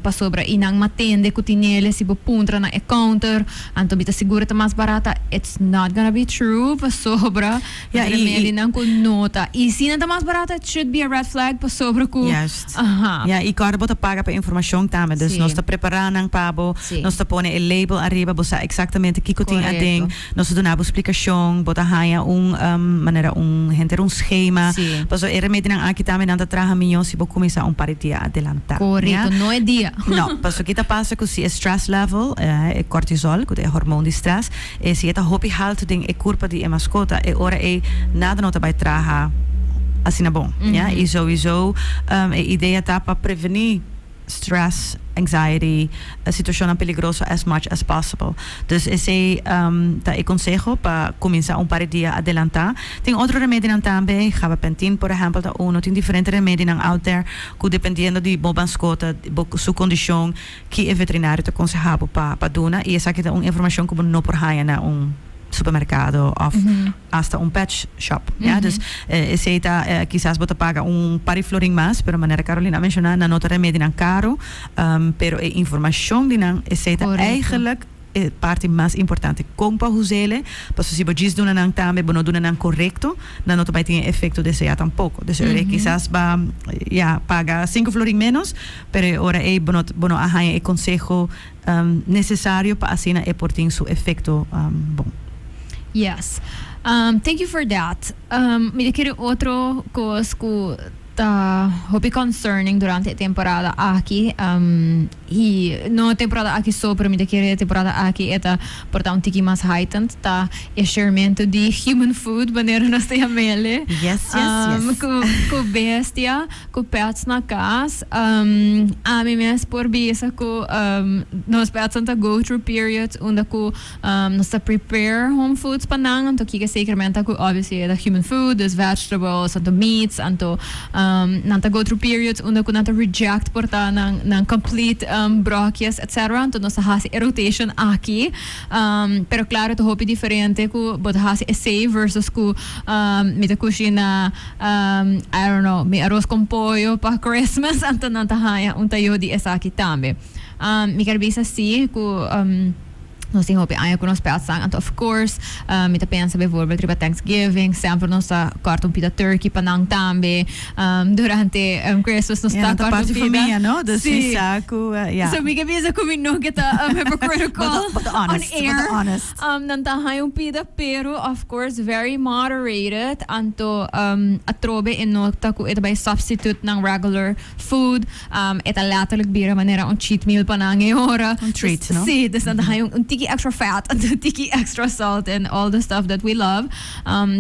pasobra y nan matende cu tinele si bo puntra na e counter, Anto mi ta seguro ta mas barata. It's not gonna be true pasobra yeah, mi remedi nan ku no ta. I si nan ta mas barata it should be a red flag pasobra ku Juist. Uh -huh. Ja, i kòrda bo ta paga pa informashon tambe. Dus sí. nos ta prepará nan pa bo, sí. nos ta pone e label ariba, bo sa eksaktamente kiko tin aden, nos ta duna bo splikashon, bo ta haña un um, manera un henter un schema. Sí. Paso e remedinan aki tambe nan ta traha mihó si bo kuminsá un par di dia adelantá. Korekto, no e dia. No, paso ki ta pasa cu si e stress level, e cortisol, cu ta e hormon di stress, e si e ta hopi halto den e curpa di e mascota, e ora ey nada no ta bay traha asina bon, ya. Y sowiso e idea ta pa preveni stress, anxiety, situacionnan peligroso as much as possible. Dus esey ta e conseho pa cuminsa un par e dia adelanta. Tin otro remedinan tambe, gabapentin por ehempel ta uno, tin diferente remedinan out there, cu dependiendo di bo banscota, bo su condicion, ki e veterinario ta conseha bo pa pa duna, y esaki ta un informacion cu bo no por haya na un supermercado of hasta un pet shop, ya. Dus esey ta kisas bo ta paga un par di florin mas, pero manera Carolina a menciona nan no ta remedinan caro, pero e informacion di nan esey ta eigenlijk E parti mas importante, kon pa husele, paso si bo djis duna nan tambe, bo no duna nan korekto, nan no ta bai tin e efekto deseá tampoko. Deso e ora ei kisas bo a ya paga sinku florin ménos, pero e ora ei bo no bo no a haña e konseho nesesario pa asina e por tin su efekto bon. Yes. Thank you for that. Mi ta kere otro kos ku. Ta hopi concerning durante e temporada aki y no e temporada aki so pero mi ta kere e temporada aki e ta por ta un tiki mas heightened ta e schermento di human food manera nos ta yamele cu cu bestia cu pets na cas ami mes por bisa cu nos petsnan ta go through periods unda cu. Nos ta prepare home foods pa nan, anto kiko sekermente ku obviously e ta human food, dus vegetables, anto meats, anto nan ta go through periods unda ku nan ta reject por ta nan complete brokies etc. Anto nos ta hasi e rotation aki. Pero klaro e ta hopi diferente ku bo ta hasi esei versus ku mi ta kushina I don't know mi aros kon pollo pa Christmas, anto nan ta haña un tayo di esaki tambe. Mi ker bisa si ku. Nos tin hopi aña cu nos pèt san, anto of course mi ta pensa bijvoorbeeld riba Thanksgiving, semper nos ta còrta un pita turkey pa nan tambe. Durante Christmas nos ta còrta un pita, sí. So mi ke bisa cu mi no ke ta hypocritical on air. Nan ta haña un pita pero of course very moderated, anto atrobe e no ta cu e ta bay substitute nan regular food. E ta letterlijk bira manera un cheat meal pa nan e ora. Un treat, no? Sí, dus nan ta haña un tiki extra fat, un tiki extra salt and all the stuff that we love.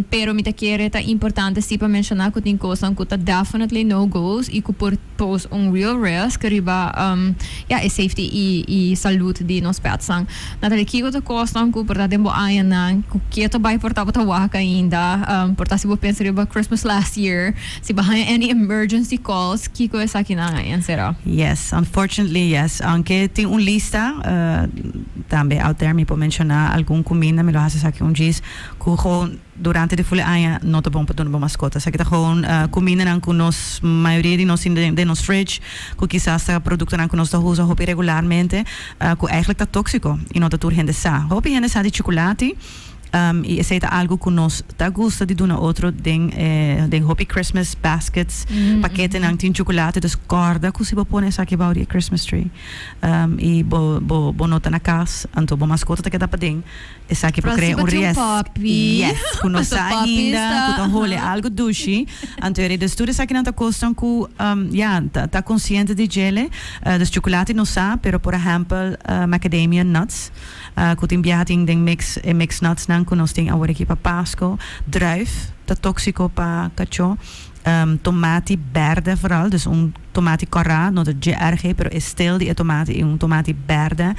Pero mi ta kere ta importante sí pa menshoná ku tin kosnan ku ta definitely no-go's i ku por pose un real risk riba, ya, e safety i i salud di nos pètsnan. Natalie, kiko ta kosnan ku por ta den bo añanan? Ku ke ta bai por ta bo ta wak ainda? Por ta si bo pensa riba Christmas last year, Si bo haña any emergency calls kiko esaki nan a encerá? Yes, unfortunately yes. Aunke tin un lista, tambe out there mi por menciona algun cuminda mi lo haci esaki un djis cu gewoon durante di fule aña no ta bon pa duna bo mascota. Esaki ta gewoon cumindanan cu nos mayoria di nos tin den nos fridge cu kisas ta productonan cu nos ta usa hopi regularmente cu eigenlijk ta toxico y no ta tur hende sa. Hopi hende sa di chuculati. y esey ta algo cu nos ta gusta di duna otro den den hopi Christmas baskets, paketenan tin chocolate, dus corda cu si bo pone esaki bou di e Christmas tree y bo bo bo no ta na cas anto bo mascota ta keda paden esaki por crea un riesgo, yes, cu no sa ainda cu ta hole algo dushi, anto e reda tur esakinan ta cosnan cu ya ta ta consciente di djele, dus chocolate no sa pero por ehempel macadamia nuts Cu tin biaha tin den mix e mix nuts nan cu nos tin awor aki pa Pasco. Druif ta toxico pa cacho. Tomati berde vooral, dus un tomati corra, no ta GRG, pero e steel di e tomati i un tomati berde.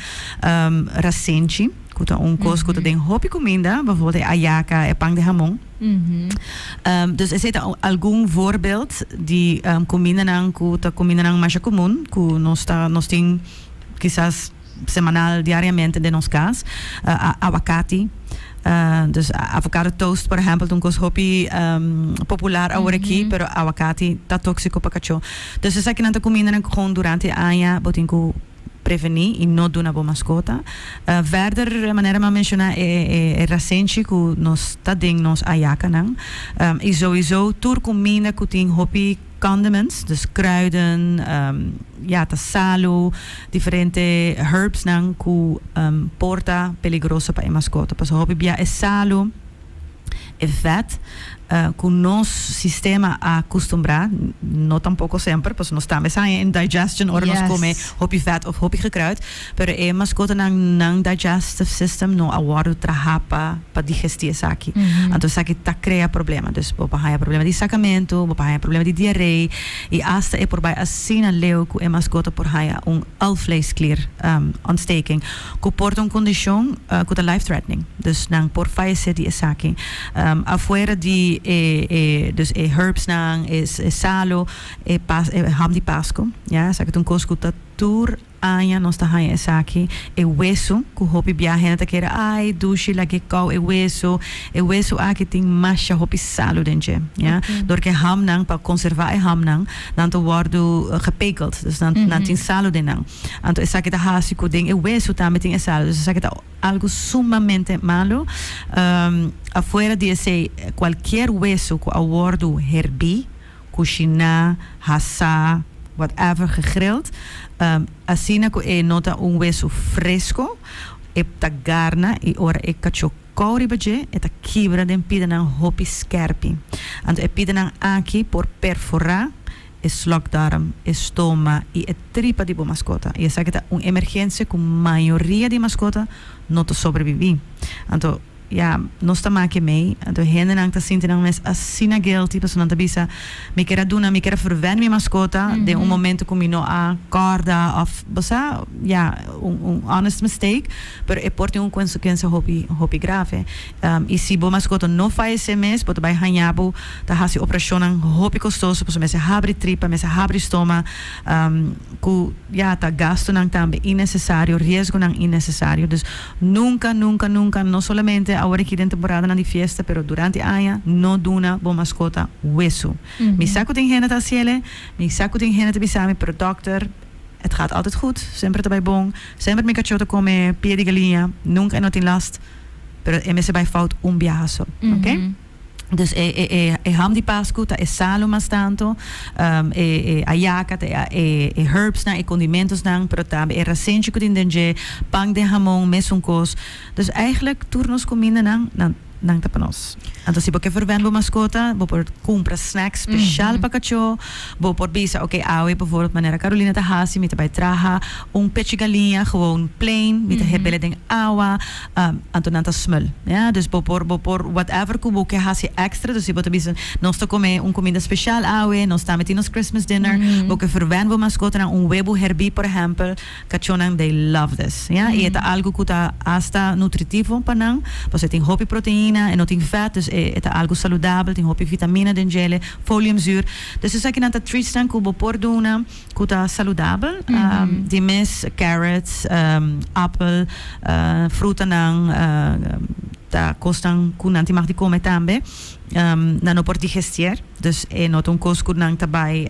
Rasenchi, cu ta un cos cu ta den hopi cuminda, bijvoorbeeld e ayaca, e pan di hamon. Dus esey ta algun voorbeeld di cumindanan cu ta cumindanan masha cumun cu nos ta, nos tin kisas. semanal, diariamente den nos cas, awakati, dus avocado toast por ehempel ta un cos hopi popular awor aki, pero awakati ta toxico pa cacho, dus esaki nan ta cumindanan con durante e aña, bo tin cu preveni y no duna bo mascota, verder manera mi a menciona e rasenchi cu nos ta den nos ayacanan, y souiso tur cuminda cu tin hopi. Condiments, dus kruiden, ya ta salu, diferente herbsnan ku por ta peligroso pa e maskota. Pasobra hopi bia e salu, e vet ku nos sistema a kustumbrá, no tampoko semper, pasobra nos tambe sa indigestion ora nos kome hopi vet òf hopi gekruid. Pero e mascotanan nan digestive system no a wordo traha pa pa digesti esaki. Anto esaki ta crea problema. Dus bo por haya problema di sacamento, bo por haya problema di diarree y hasta e por bay asina leu cu e mascota por haya un alvleesklier ontsteking cu por ta un condicion cu ta life threatening. Dus nan por fayece di esaki. Afuera di e e dus e herbs nan, e salo, e ham di Pasco, ya, esaki ta un cos cu ta tur. Aña nos ta haña esaki, e wesu, ku hopi bia hende ta kere, ai, dushi, lag'é kòu e wesu, e wesu aki tin masha hopi salu den dje, ja. Dor ku e hamnan, pa konservá e hamnan, nan ta wòrdu gepekeld, dus nan nan tin salu den nan. Anto esaki ta hasi ku den e wesu tambe tin e salu, dus esaki ta algu sumamente malu. Afuera di esei, kualkier wesu ku a wòrdu herbí, kushiná, hasá, whatever, gegrild, asina ku e no ta un wesu fresko, e ta garna i ora e kachó kou riba dje, e ta kibra den pidenan hopi skèrpi. Anto e pidenan aki por perforá e slokdarm, e stoma i e tripa di bo maskota, i esaki ta un emergensia ku mayoria di maskota no ta sobrebibí. Anto. Ya, nos ta maki mei. Anto hendenan ta sinti nan mes asina guilty pasobra nan ta bisa, Mi kier a duna, mi kier a ferwènt mi maskota den un momento ku mi no a kòrda òf bo sa, ya, un un honest mistake, pero e por tin un konsekuensia hopi hopi grave. I si bo maskota no fayesé mes, bo ta bai haña bo ta hasi operashonnan hopi kostoso pasobra mester habri tripa, mester habri stoma, ku ya ta gastunan tambe innesesario, riesgonan innesesario. Dus. Nunka, nunka, nunka, no solamente awor aki den temporadanan di fiesta, pero durante aña, no duna bo maskota wesu. Mi sa ku tin hende ta hasiele, mi sa ku tin hende ta bisa mi, pero dòkter, et gaat altijd goed, semper ta bai bon, semper mi kachó ta kome pie di galiña, nunka e no tin last, pero e mester bai fout un biaha so. Oké? Dus e e e ham di Pascu ta e salu mas tantu, e e ayaca ta e e herbsnan, e condimentosnan, pero tambe e rasenchi cu tin den dje, pan den hamon, mesun cos. Dus eigenlijk tur nos cumindanan nan nan ta pa nos. Anto si bo ke verwen bo mascota, bo por cumpra snacks special pa cachó, bo por bisa, ok, awe bijvoorbeeld manera Carolina ta haci, mi ta bay traha un pechi galiña, gewoon plain, mi ta hebele den awa. Anto nan ta smul. Ya, dus bo por, bo por whatever ku bo ke hasi extra. Dus si bo ta bisa, nos ta kome un kuminda spesial awe, nos tambe tin nos Christmas dinner, bo ke ferwen bo maskotanan un webu herbí, por ehèmpel, kachónan they love this. Ya, i e ta algu ku ta hasta nutritivo pa nan, pasobra e tin hopi proteina, e no tin fèt, dus e ta algu saludabel, tin hopi vitamina den djele, foliumzuur. Dus esaki nan ta treats nan ku bo por duna. cu ta saludabel, di mes carrots, apel, frutanan ta cosnan cu nan tin mag di come tambe, nan no por digestier, dus e no ta un cos cu nan ta bay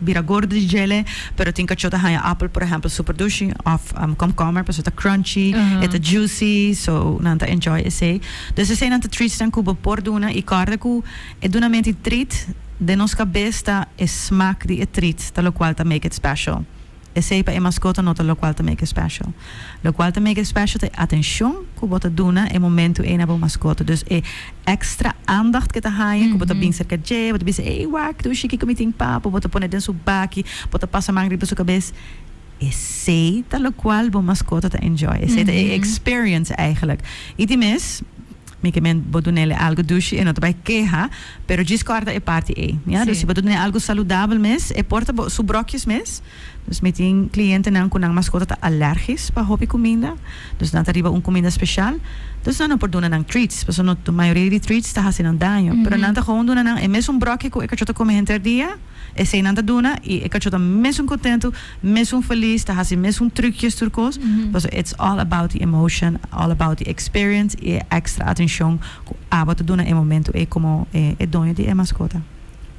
bira gordo di djele, pero tin cachó ta haya apel por ehempel super dushi of komkommer pasobra ta crunchy, e ta juicy, so nan ta enjoy esey, dus esey nan ta treats cu bo por duna y corda cu. E dunamenti trit den nos kabes ta e smak di e trit ta lokual ta make it special. Esei pa e maskota no ta lokual ta make it special. Lokual ta make it special ta e atenshon ku bo ta duna e momentu ei na bo maskota. Dus e èkstra andacht ke ta haña ku bo ta bin serka dje, bo ta bisa, Ey wak, dushi kiko mi tin pa bo? Bo ta pone den su baki, bo ta pasa man riba su kabes. Esei ta lokual bo maskota ta enjoy. Esei ta e experience, eigelijk. Y di mes. Mi ke men bo dunele algo dushi e no ta bai keha, pero djis kòrda e parti ei. Ya, dus si bo ta dun'e algo saludabel mes, e por ta bo su bròkies mes. Dus mi tin klientenan ku nan maskota ta alèrgis pa hopi kuminda, dus nan ta riba un kuminda speshal, dus nan no por duna nan treats, pasobra mayoria di treats ta hasi nan daño, pero nan ta gewoon duna nan e mesun bròki ku e kachó ta kome henter dia. Esei nan ta duna y e cacho ta mesun contento, mesun feliz, ta haci mesun trucjes tur cos, pasobra it's all about the emotion, all about the experience y e extra atencion cu abo ta duna e momento ey como e doño di e mascota.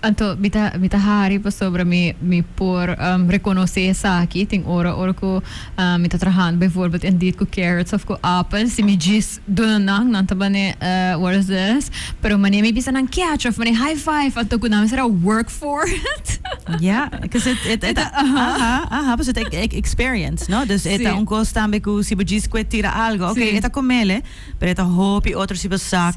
Anto mi ta mi ta hari pasobra mi mi por reconoce esaki. Tin ora ora cu mi ta trahando bijvoorbeeld en diet cu carrots of cu apel si mi djis. Duna nan, nan ta bane worses, pero mane mi bisa nan catch of mane high five ato cu nan mi sera work for it. Ja, cuz e ta, e ta, aha, aha, pasobra ta e experience, no? Dus e ta un cos tambe cu si bo djis cu e tira algo, oke, e ta comele, pero e ta hopi otro si bo sak,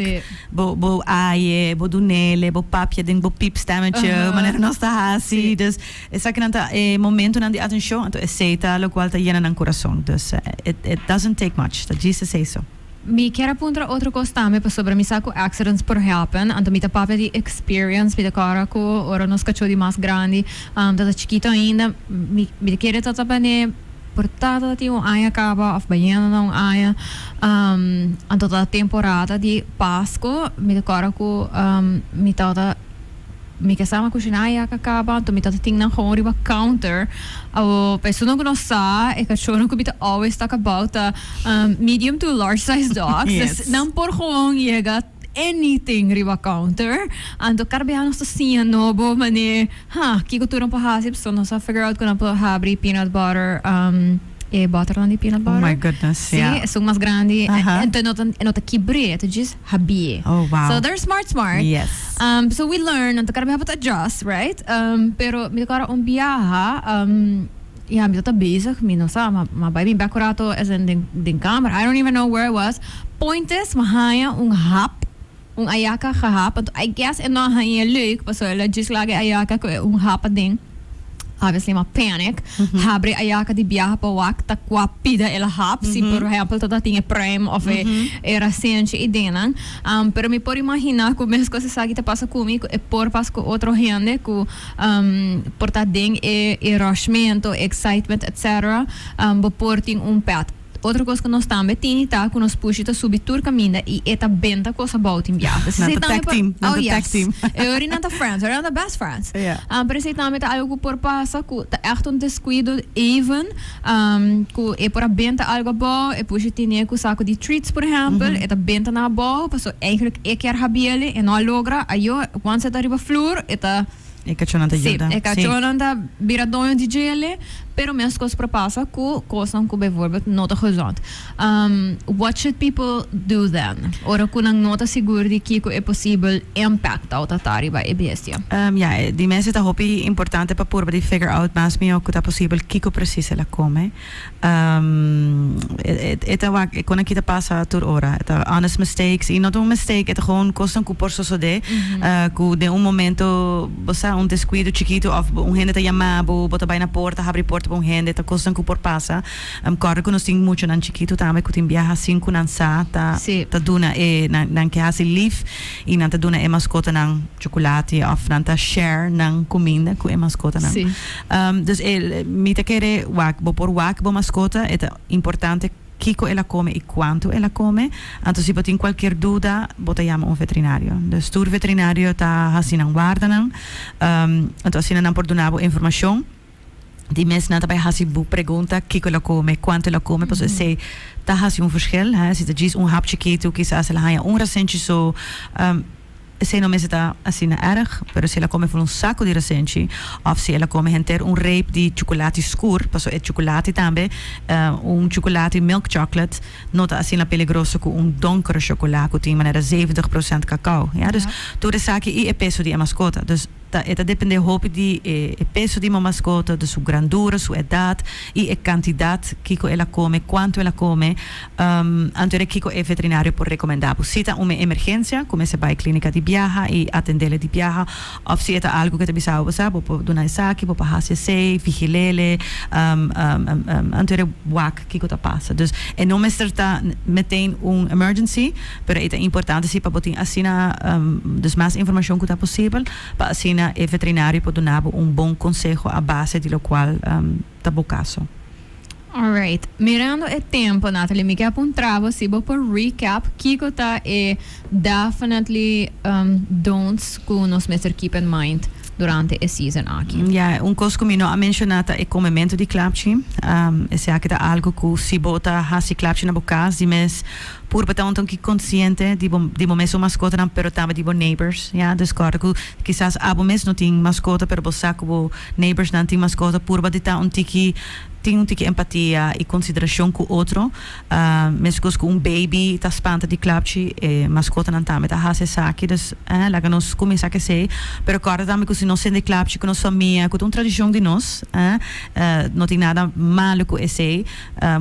bo, bo aye, bo dunele, bo papia den bo peep stemetje, manera nos ta haci, dus. Esakinan ta e momentonan di atenshon, anto esei ta lokual ta yena nan kurason. Dus, it it doesn't take much, ta djis esei so. Mi kier a puntra otro kos tambe pasobra mi sa ku accidents por happen, anto mi ta papia di experience. Mi ta kòrda ku ora nos kachó di mas grandi ta ta chikito ainda, mi mi ta kere ta ta bane por tata ta tin un aña kaba òf bayendo na un aña, anto ta temporada di Pasko. Mi ta kòrda ku mi tata. Mi kesama a kushiná a yaka kaba, anto mi tabata tin nan houn riba counter. Awo, pa esunnan ku no sa, e kachónan ku mi ta always tok about ta medium to large size dogs. Yes. Nan por gewoon yega anything riba counter. Anto karibeanos ta siña no bo mané, ha, kiko tur nan por hasi, so nos a figure out ku nan por habri peanut butter. E botternan di peanut butter. Oh my goodness, yeah. Sí, esun mas grandi. Aha. E, entonces no ta, e no ta kibr'é, e ta djis habi'é. Oh, wow. So they're smart, smart. Yes. Um, so we learn, nan ta cara mi hap'a ta adjust, right? Um, pero mi ta cara un biaha, um, ya, mi ta ta bezig, mi no sa, ma, ma bai bin bek urato, as in den, den kamer, I don't even know where I was. Point is, mi haña un hap. Un ayaka gehad, but I guess e no hanja e leuk, paso el a just laga e ayaka cu e un hap aden, obviously ma panic, habri e ayaka di biaha pa wak ta cua pida el a hap, si por ehempel ta ta tin e pruim of e e rasenchi y dinnan, am, pero mi por imagina cu mes cos esaki ta pasa cu mi, cu e por pasa cu otro hende cu, am, por ta den e e rushment o e excitement etc, am, bo por tin un pet. Otro cos cu nos tambe tini ta cu nos pushi ta subi tur caminda y e ta benta cos abao tin biaha. Nan ta tag team, nan ta tag team. Oh yes. E ori nan ta friends, ora nan ta best friends. Ja. Um, pero esey tambe ta algo cu por pasa, cu ta echt un descuido even, um, cu e por a benta algo abao, e pushi tine cu sa cu di treats, por ehempel, e ta benta nan abao, pasobra eigenlijk e kier habiele, e no a logra, ayo, once e ta riba floor, e ta. E cachonnan ta yuda. Sí, e cachonnan ta bira doño di djele, pero mescos por pasa cu cosnan cu bijvoorbeeld no ta gezond. What should people do then ora cu nan no ta sigur di kico e posibel impact tao ta ta riba e bestia? Ya, di mes e ta hopi importante pa purba di figure out mas mihó cu ta posibel kico precies el a come. E ta wak, e con aki ta pasa tur ora. E ta honest mistakes, y no ta un mistake, e ta gewoon cosnan cu por sosode, cu den un momento, bo sa, un descuido chikito of un hende ta yama bo, bo ta bay na porta, habri porta pa un hende, ta cosnan cu por pasa. Em corda cu nos tin muchonan chikito tambe cu tin biaha sin cu nan sa ta duna e nan ke haci lief. Y nan ta duna e mascotanan chocolate of nan ta share nan cuminda cu e mascotanan. Sí. Dus e, mi ta kere wak, bo por wak bo mascota, e ta importante kico el a come y cuanto el a come. Anto si bo tin cualkier duda, bo ta yama un veterinario. Dus tur veterinario ta haci nan wardanan. Anto asina nan por duna bo informacion. di mes nan ta bai hasi bo pregunta kiko lo kome, kuantu lo kome, pasobra esei ta hasi un fershel. Si ta djis un hap chikitu kisas el a haña un rasenchi so, esei no mester ta asina èrg, pero si el a kome full un saku di rasenchi òf si el a kome henter un reep di chukulati skur, pasobra e chukulati tambe, un chukulati milk chocolate no ta asina peligroso ku un donkere shokolá ku tin manera zeventig prosènt kakao, ya. Dus tur esaki i e peso di e maskota. ta e ta dependé hopi di e e peso di mamaskota, di su grandura, su edat i e kantidat kiko el a kome, kuantu el a kome, anto de kiko e veterinario por rekomendá bo. Si ta un emergensia, ku mester bai klínika di biaha i atendele di biaha, òf si e ta algu ku e ta bisaba bo sa, bo por duna esaki, bo por hasi esei, vigilele, anto de wak. Kiko ta pasa? Dus e no mester ta meteen un emergency, pero e ta importante si pa bo tin asina, dus mas informashon ku ta posibel, pa asina e veterinario por duna bo un bon konseho a base di lokual ta bo kaso. Alright. Mirando e tempo, Natalie, mi ke a puntra bo si bo por recap kiko ta e. Definitely don'ts cu nos mester keep in mind durante e season aki. Ya, un cos cu mi no a menciona ta e comemento di clapchi. Esaki ta algo cu si bo ta haci clapchi na bo cas di mes, purba ta un toki consciente di bo mes su mascotanan pero tambe di bo neighbors. Ya, dus corda cu kisas abo mes no tin mascota pero bo sa cu bo neighborsnan tin mascota, purba di ta un tiki, tin un tiki empatia y consideracion cu otro. Mescos cu un baby ta spanta di klapchi, e mascotanan tambe ta haci esaki. Dus, eh, laga nos cuminsa cu esey. Pero corda tambe cu si nos sinti klapchi cu nos famia, cu ta un tradicion di nos, eh, no tin nada malo cu esey.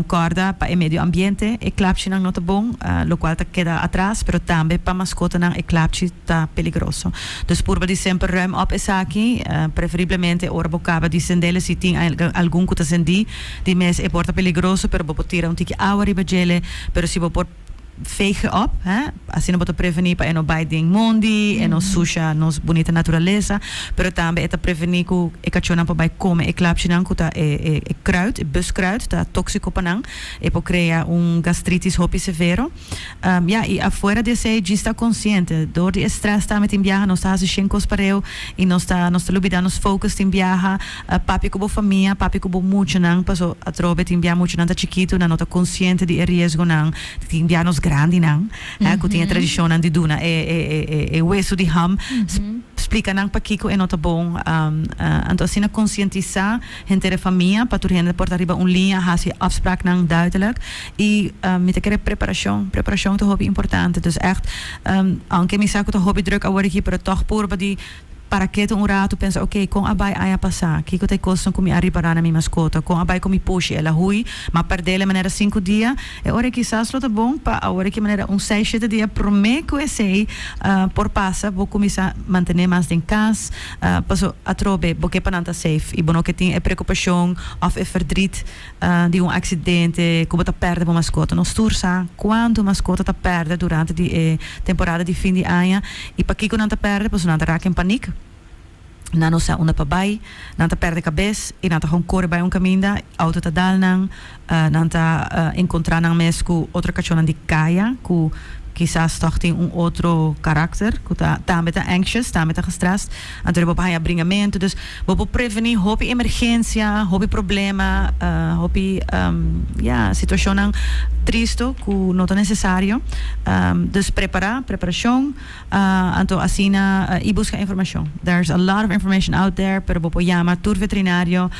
Corda, pa e medio ambiente e klapchinan no ta bon, locual ta keda atras, pero tambe pa mascotanan e klapchi ta peligroso. Dus purba di semper ruim op esaki, preferiblemente ora bo caba di cendel, si tin algun cu ta cendi. Di mes e por ta peligroso pero bo por tira un tiki awa riba djele pero si bo por vegen op he asina bo ta preveni pa e no bai den mondi e no susha nos bunita naturalesa pero tambe e ta preveni cu e cachonan por bai come e klapsjenan cu ta e e kruid e buskruid ta toxico pa nan e por crea un gastritis hopi severo. Ya, i afuera di esei djis ta konsiente. Dor di e strès tambe tin biaha nos ta hasi shen kos pareu i nos ta nos ta lubidá nos focus tin biaha. Papia ku bo famia, papia ku bo muchanan paso atrobe tin biaha muchanan ta chikitunan, no ta konsiente di e riesgonan. Tin biaha nos grandinan hè ku tin e tradishonnan di duna e e wesu di ham, splika nan pakiko e no ta bon. Anto asina konsientisá. Henter e famia, pa tur hende por ta riba un liña, hasi e afspraknan duidelijk. I mi ta kere preparashon. Preparashon ta hopi importante. Dus ègt, aunke mi sa ku ta hopi drùk awor aki, pero tòg purba di para ketu un ratu, pensa oke, kon a bai aña pasá? Kiko ta e kosnan ku mi a ripará na mi maskota? Kon a bai ku mi pushi? El a hui? M'a pèrdel e manera sinku dia? E ora ei kisas lo ta bon pa awor aki manera un seis shete dia promé ku esei por pasa, bo kuminsá mantené mas den kas. Paso, atrobe bo ke pa nan ta safe i bo no ke tin e preokupashon òf e fèrdrit di un aksidente ku bo ta pèrdè bo maskota. Nos tur sa kuantu maskota ta pèrdè durante di e temporada di fin di aña i pakiko nan ta pèrdè. Paso nan ta raka den panik, nan no sa unda pa bai, nan ta pèrdè kabes i nan ta kon kore bai un kaminda, outo ta dal nan, Nan ta encontra nan mes cu otro cachonnan di caya cu kisas tog tin un otro karakter cu ta tambe ta anxious, tambe ta gestrest. Anto bo por haya bringamento. Dus bo por preveni hopi emergencia, hopi problema, hopi ya situacionnan tristo cu no ta necesario. Dus prepara, preparacion. Anto asina y busca informacion. There's a lot of information out there pero bo por yama tur veterinario,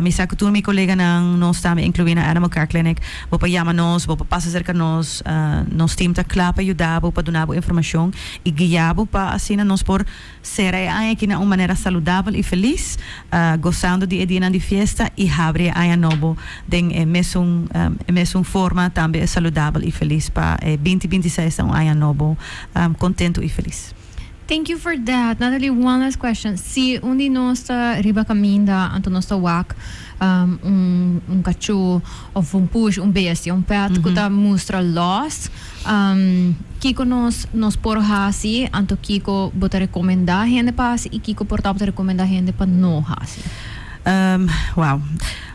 mi sa cu tur mi coleganan nos tambe inclui na Animal Care Clinic, bo por yama nos, bo por pasa cerca nos, nos team ta cla pa yuda bo pa duna bo informacion y guia bo pa asina nos por cera e aña aki na un manera saludabel y feliz, gozando di e dianan di fiesta y habri e aña nobo den e mesun e mesun forma tambe saludabel y feliz pa e binti binti seis ta un aña nobo contento y feliz. Thank you for that. Nathalie, one last question. Si un di nos ta riba caminda anto nos ta wak un cacho of un push, un bestia, un pet cu ta mustra lost, kico nos por haci anto kico bo ta recomenda hende pa haci y kico por tabatin recomenda hende pa no haci? Wow.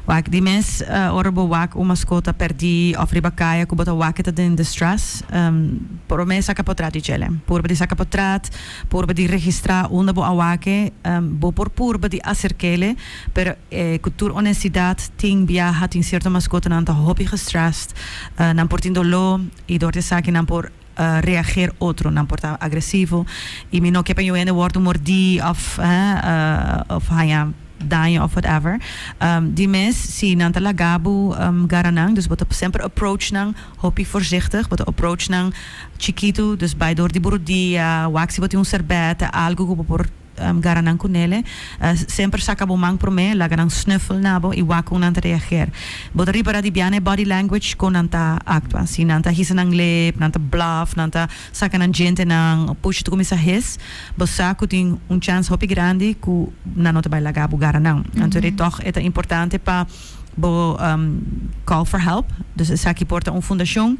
Wak di mes, Ora bo wak un maskota perdí òf riba kaya ku bo ta wak e ta den distress, promé saka potrat di djele. Purba di saka potrat, purba di registrá unda bo a wak e. Bo por purba di aserk'ele, pero ku tur onestidat tin biaha tin sierto maskotanan ta hopi gestressd, nan por tin doló i dor di esaki nan por. reager otro nan por ta agresivo y mi no kier pa yu hende wordo mordi of of haya daño of whatever di mes si nan ta laga bo gara nan dus bo ta semper approach nan hopi voorzichtig bo ta approach nan chikito dus bay door di bo rodia wak si bo tin un serbet algo ku bo por gara nan cu nele. Semper saca bo man prome, laga nan snuffle na bo y wak con nan ta reager. Bo ta ripara di biaha na e body language con nan ta actua. Si nan ta hisa nan lip, nan ta bluff, nan ta saca nan djentenan, o puchi ta cuminsa his, bo sa cu tin un chance hopi grandi cu nan no ta bay laga bo gara nan. Anto de tog e ta importante pa bo call for help. Dus esaki por ta un fundacion.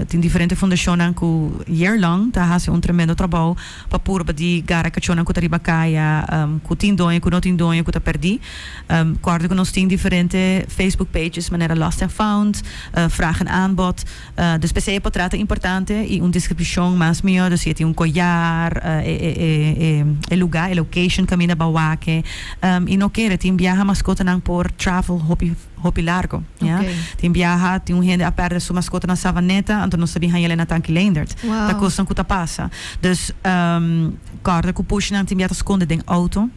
Tin diferente fundacionnan cu year long ta haci un tremendo trabao. pa purba di gara kachónan ku ta riba kaya, ku tin doño, ku no tin doño, ku ta pèrdí. Kòrda ku nos tin diferente Facebook pages manera Lost and Found, Vraag en Aanbod. Dus p'esei e potret ta importante i un deskripshon mas mihó, dus si e tin un koyar, e lugá, e location kaminda bawak'e i no kere. Tin biaha maskotanan por travel hopi. hopi largo. Ya. Tin biaha tin un hende a perde su maskota na Savaneta, anto nos ta bin haña lei na Tanki Leendert. Ta kosnan ku ta pasa. Dus, kòrda ku pushnan tin biaha ta skonde den outo.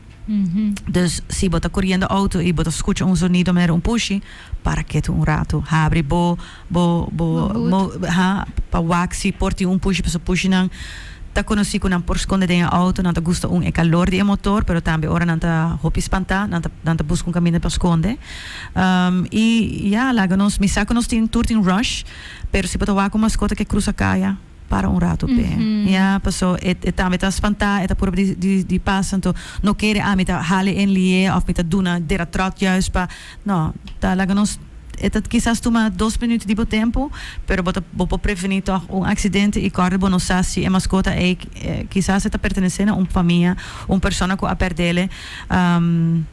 Dus, si bo ta koriendo outo i bo ta skucha un zonido manera un pushi, para ketu un ratu. Habri bo. Bo bo mo ha pa wak si por tin un pushi pasobra pushi nan ta konosí ku nan por skonde den e outo nan ta gusta un e kalor di e motor pero tambe ora nan ta hopi spantá nan ta nan ta buska un kaminda pa skonde i ya laga nos mi sa ku nos tin tur tin rush pero si bo ta wak un maskota ke krusa kaya. para un rato pe ya paso e tambe ta spanta e ta purba di di di pasa anto no kere a mi ta hale en lie of mi ta duna dera trot juis pa no ta laga nos e ta kisas tuma dos minuut di bo tempo pero bo ta bo por preveni tog un accidente y kòrd'e bo no sa si e mascota ei kisas e ta pertenece na un famia un persona cu a perdele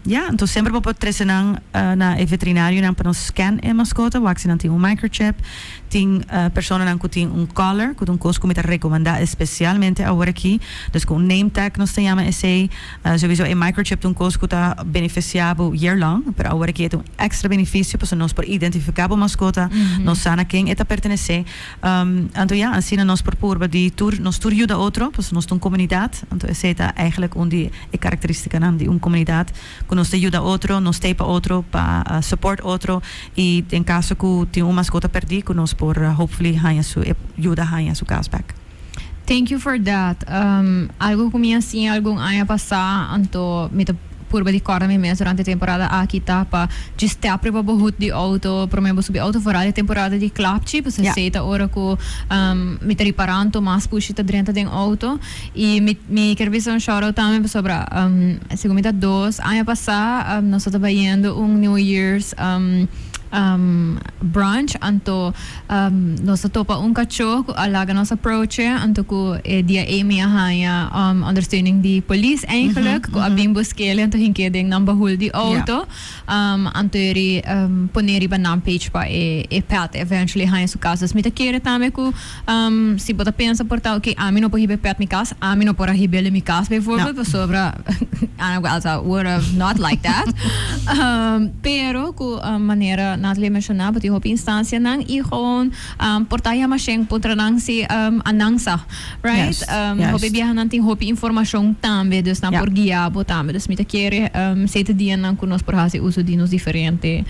ya anto semper bo por trece nan na e veterinario nan pa nos scan e mascota wak si nan tin un microchip. Tin personanan cu tin un collar, cu ta un cos cu mi ta recomenda especialmente aworaki. Dus cu un name tag nos ta jama esey. Sowiso e microchip ta un cos cu ta beneficia bo year long, pero aworaki e ta un extra beneficio pasobra nos por identifica bo mascota, nos sa na ken e ta pertenece. Anto ya, asina nos por purba di tur, nos tur yuda otro, pasobra nos ta un comunidad, anto esey ta eigenlijk un di e caracteristicanan di un comunidad. cu nos ta yuda otro, nos stay pa otro, pa support otro, y den caso cu tin un mascota perdi cu nos por hopefully haya su e yuda haya su cas back. Thank you for that. Algo cu mi a siña algun aña pasá, anto mi ta purba di corda mi mes durante e temporada aki ta pa dje stepri pa bo hoed di auto prome bo subi auto, foral e temporada di klapchi, pasobra esei ta ora cu mi ta ripará anto mas pushi ta drenta den auto. Y mi mi quier bisa un shout out tambe pasobra um segun mi ta dos aña pasa um nos tabata bayendo un new years um um brunch anto um nos ta topa un cachoh cu a laga nos aproche anto cu e dia ey mi a haya um ondersteuning di police eigenlijk cu a bin busquele anto hink'e den nan bahul di auto um anto yari um pone riba nan page pa e e pet eventually haya su cas. Dus mi ta kere tambe cu. Si bo ta pensa por ta, oké, ami no por hib'é pèt mi kas, ami no por a hib'el den mi kas beivoorbeeld, pasobra Ana ku Elsa were not like that. Pero ku manera Natalie a menshoná, bo tin hopi instansianan i gewoon portá yama shen puntra nan si a nan sa, right? Hopi biahanan tin hopi informashon tambe, dus nan por guia bo tambe. Dus mi ta kere siete dianan ku nos por hasi uso di nos diferente.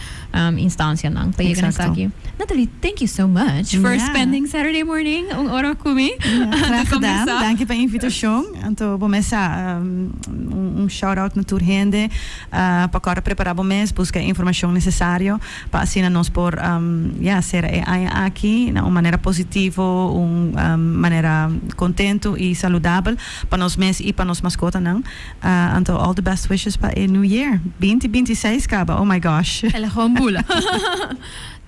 instancianan pa yega na esaki. Nathalie thank you so much for spending Saturday morning un ora cu mi ta conversa. Danki pa invitacion. Anto bo mes sa un shout out na tur hende pa cora prepara bo mes busca e informacion necesario pa asina nos por ya cera e aña aki na un manera positivo un manera contento y saludabel pa nos mes y pa nos mascotanan. Anto all the best wishes pa e new year. Binti binti seis kaba oh my gosh. El a gewoon bula.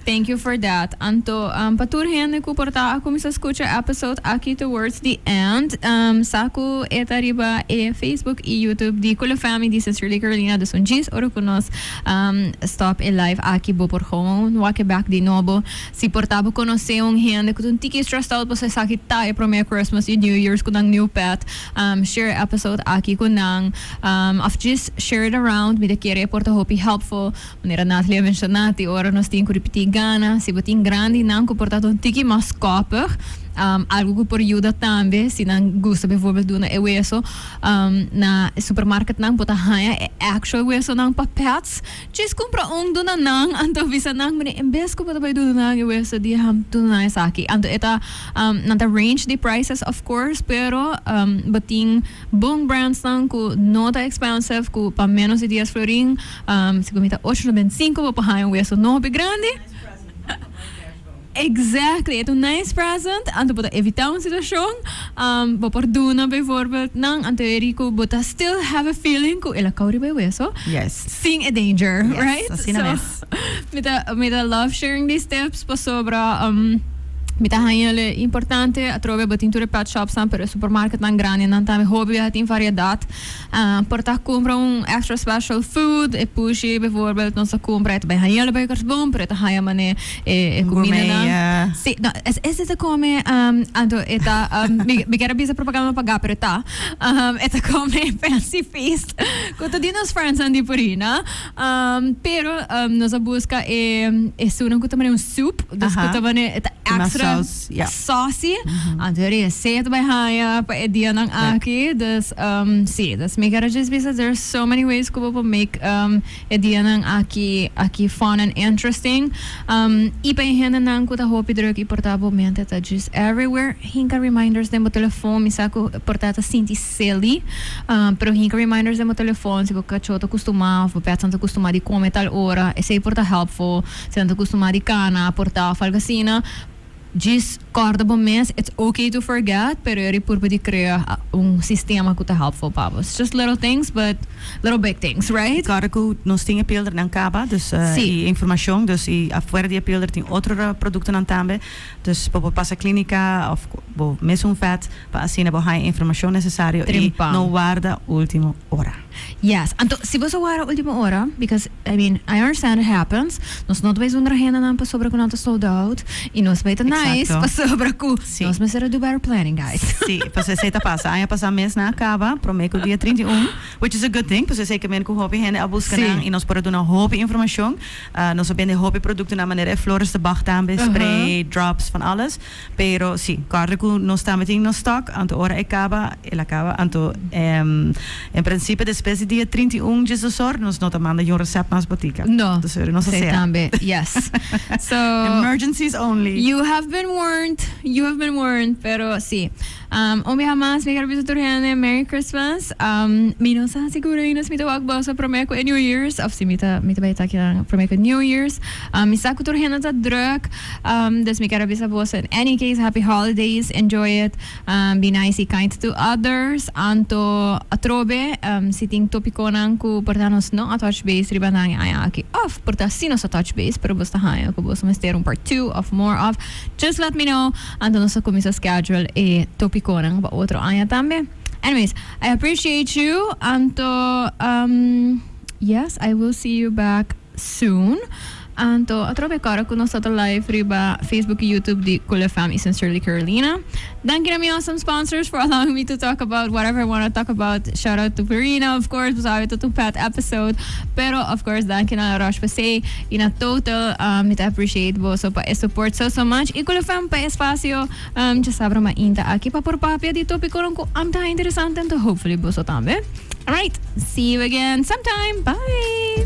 Thank you for that. Anto pa tur hende ku por ta a kuminsá skucha e episode aki towards the end, sa ku e ta riba e Facebook i YouTube di Kula Femi di Sincerely Carolina. Dus un djis ora ku nos stop e live aki bo por gewoon wak bek di nobo. Si por ta bo konosé un hende ku ta un tiki stressed out pasobra esaki ta e promé Christmas i New Year's ku nan new pet, Share e episode aki cu nan of djis share it around. Mi ta kere e por ta hopi helpful. Manera Natalie a menciona tin ora nos tin cu ripiti gana. Si bo tin grandinan cu por tabata un tiki mas copig, algo cu por yuda tambe si nan gusta bijvoorbeeld duna e weso na e supermarketnan bo ta haya e actual wesonan pa pets. Djes cumpra un duna nan, anto bisa nan, Mene, en bes cu bo ta bay duna nan e weso di ham, duna nan esaki. Anto e ta, um, nan ta range di prices of course, pero, um, bo tin bon brandsnan cu no ta expensive, cu pa menos di dies florin, um, si bo mita ocho no benticinco bo por haña un weso no hopi grandi. Exactly. E ta un nice present. Anto bo ta evitá un situashon, bo por duna bijvoorbeeld nan anto eri ku bo ta still have a feeling ku el a kou riba e weso sin e danger, right? So, mi ta mi ta love sharing these tips pasobra mi ta haña el e importante. Atrobe bo tin tur e pet shopsnan, pero e supermarketnan grandenan tambe hopi biaha tin variedat. Por ta cumpra un extra special food e pushy bijvoorbeeld nos ta cumpra e ta bay haña lo bay kers bon pero e ta haña mane e e cuminanan si no es ese ta come anto e ta mi quier a bisa propaganda no paga pero e ta e ta come fancy feast cu ta di nos friends nan di por ahi na pero nos a busca e e sunan cu ta mane un soup cu ta mane e ta extra. Sosi, anto e reset bay haya pa e dianan aki. Dus si, dus mi kere djis bisa there are so many ways ku bo por make e dianan aki aki fun and interesting. I pa e hendenan ku ta hopi druk i por ta bo mente ta djis everywhere, hinka reminders den bo telefon. Mi sa ku por ta ta sinti silly, pero hinka reminders den bo telefon si bo kachó ta kustumá of bo pètnan ta kustumá di kome tal ora, esei por ta helpful. Si nan ta kustumá di kana, portá of algo asina. Djis kòrda bo mes, it's ok to forget, pero eri purba di krea un sistema ku ta hèlpful pa bo. It's just little things but little big things, right? Kòrda ku nos tin e pildernan kaba, dus i e informashon, dus i afuera di e pilder tin otro produktonan tambe, dus bo por pasa klinika òf bo mes un vèt pa asina bo haña e informashon nesesario i no warda ultimo ora. Yes, anto si bo sa wara ultimo ora, because I mean I understand it happens, nos no ta bay zonder agenda nan pasobra cu nan ta sold out y nos bay ta nice Exacto. pasobra cu Sí. nos mester a do better planning guys. Sí, paso esey ta pasa. Aña pasa mes nan a caba, prome cu dia trinta i un, which is a good thing, paso esey caminda cu hopi hende a busca Sí. nan y nos por a duna hopi informacion. Ah, nos a bende hopi productonan manera e flores de Bach tambe, Aha. spray, drops, van alles. Pero si, kòrda ku nos tambe tin nos stòk, anto ora e kaba, el a kaba. Anto, en prinsipio despues di dia trinta i un djesosor nos no ta manda yu resèpt mas botica. No, esei tambe. Yes. So. Emergencies only. You have been warned, you have been warned, pero si. Un biaha mas mi kerubita tur hende Merry Christmas. Mi no sa seguro ainda si mi ta wak boso prome ku e New Years of si mi ta mi ta bai ta kidan prome ku New Years. Mi sa ku tur hende ta druk dus mi ker a bisa boso in any case happy holidays enjoy it be nice y kind to others anto atrobe si tin topikonan ku por ta nos no a touch base riba nan a ya aki of por ta si nos a touch base pero boso ta haña ku boso mester un part two of more of just let me know. Anto nos ta cuminsa schedule e topiconan pa otro aña tambe. Anyways, I appreciate you anto um yes I will see you back soon anto atrobe cora cu nos ta ta live riba Facebook y YouTube di Cool FM y Sincerely Carolina. Danki na mi awesome sponsors for allowing me to talk about whatever I wanna talk about. Shout out to Verena of course bo sabe tot un fat episode pero of course danki na La Roche Posay Y na total mi ta appreciate boso pa e support so so much. Y Culefem pa e espacio. Dja sab Roma Ing ta aki pa por papia di topiconan cu am ta ha interesante anto hopefully boso tambe. Alright, see you again sometime. Bye!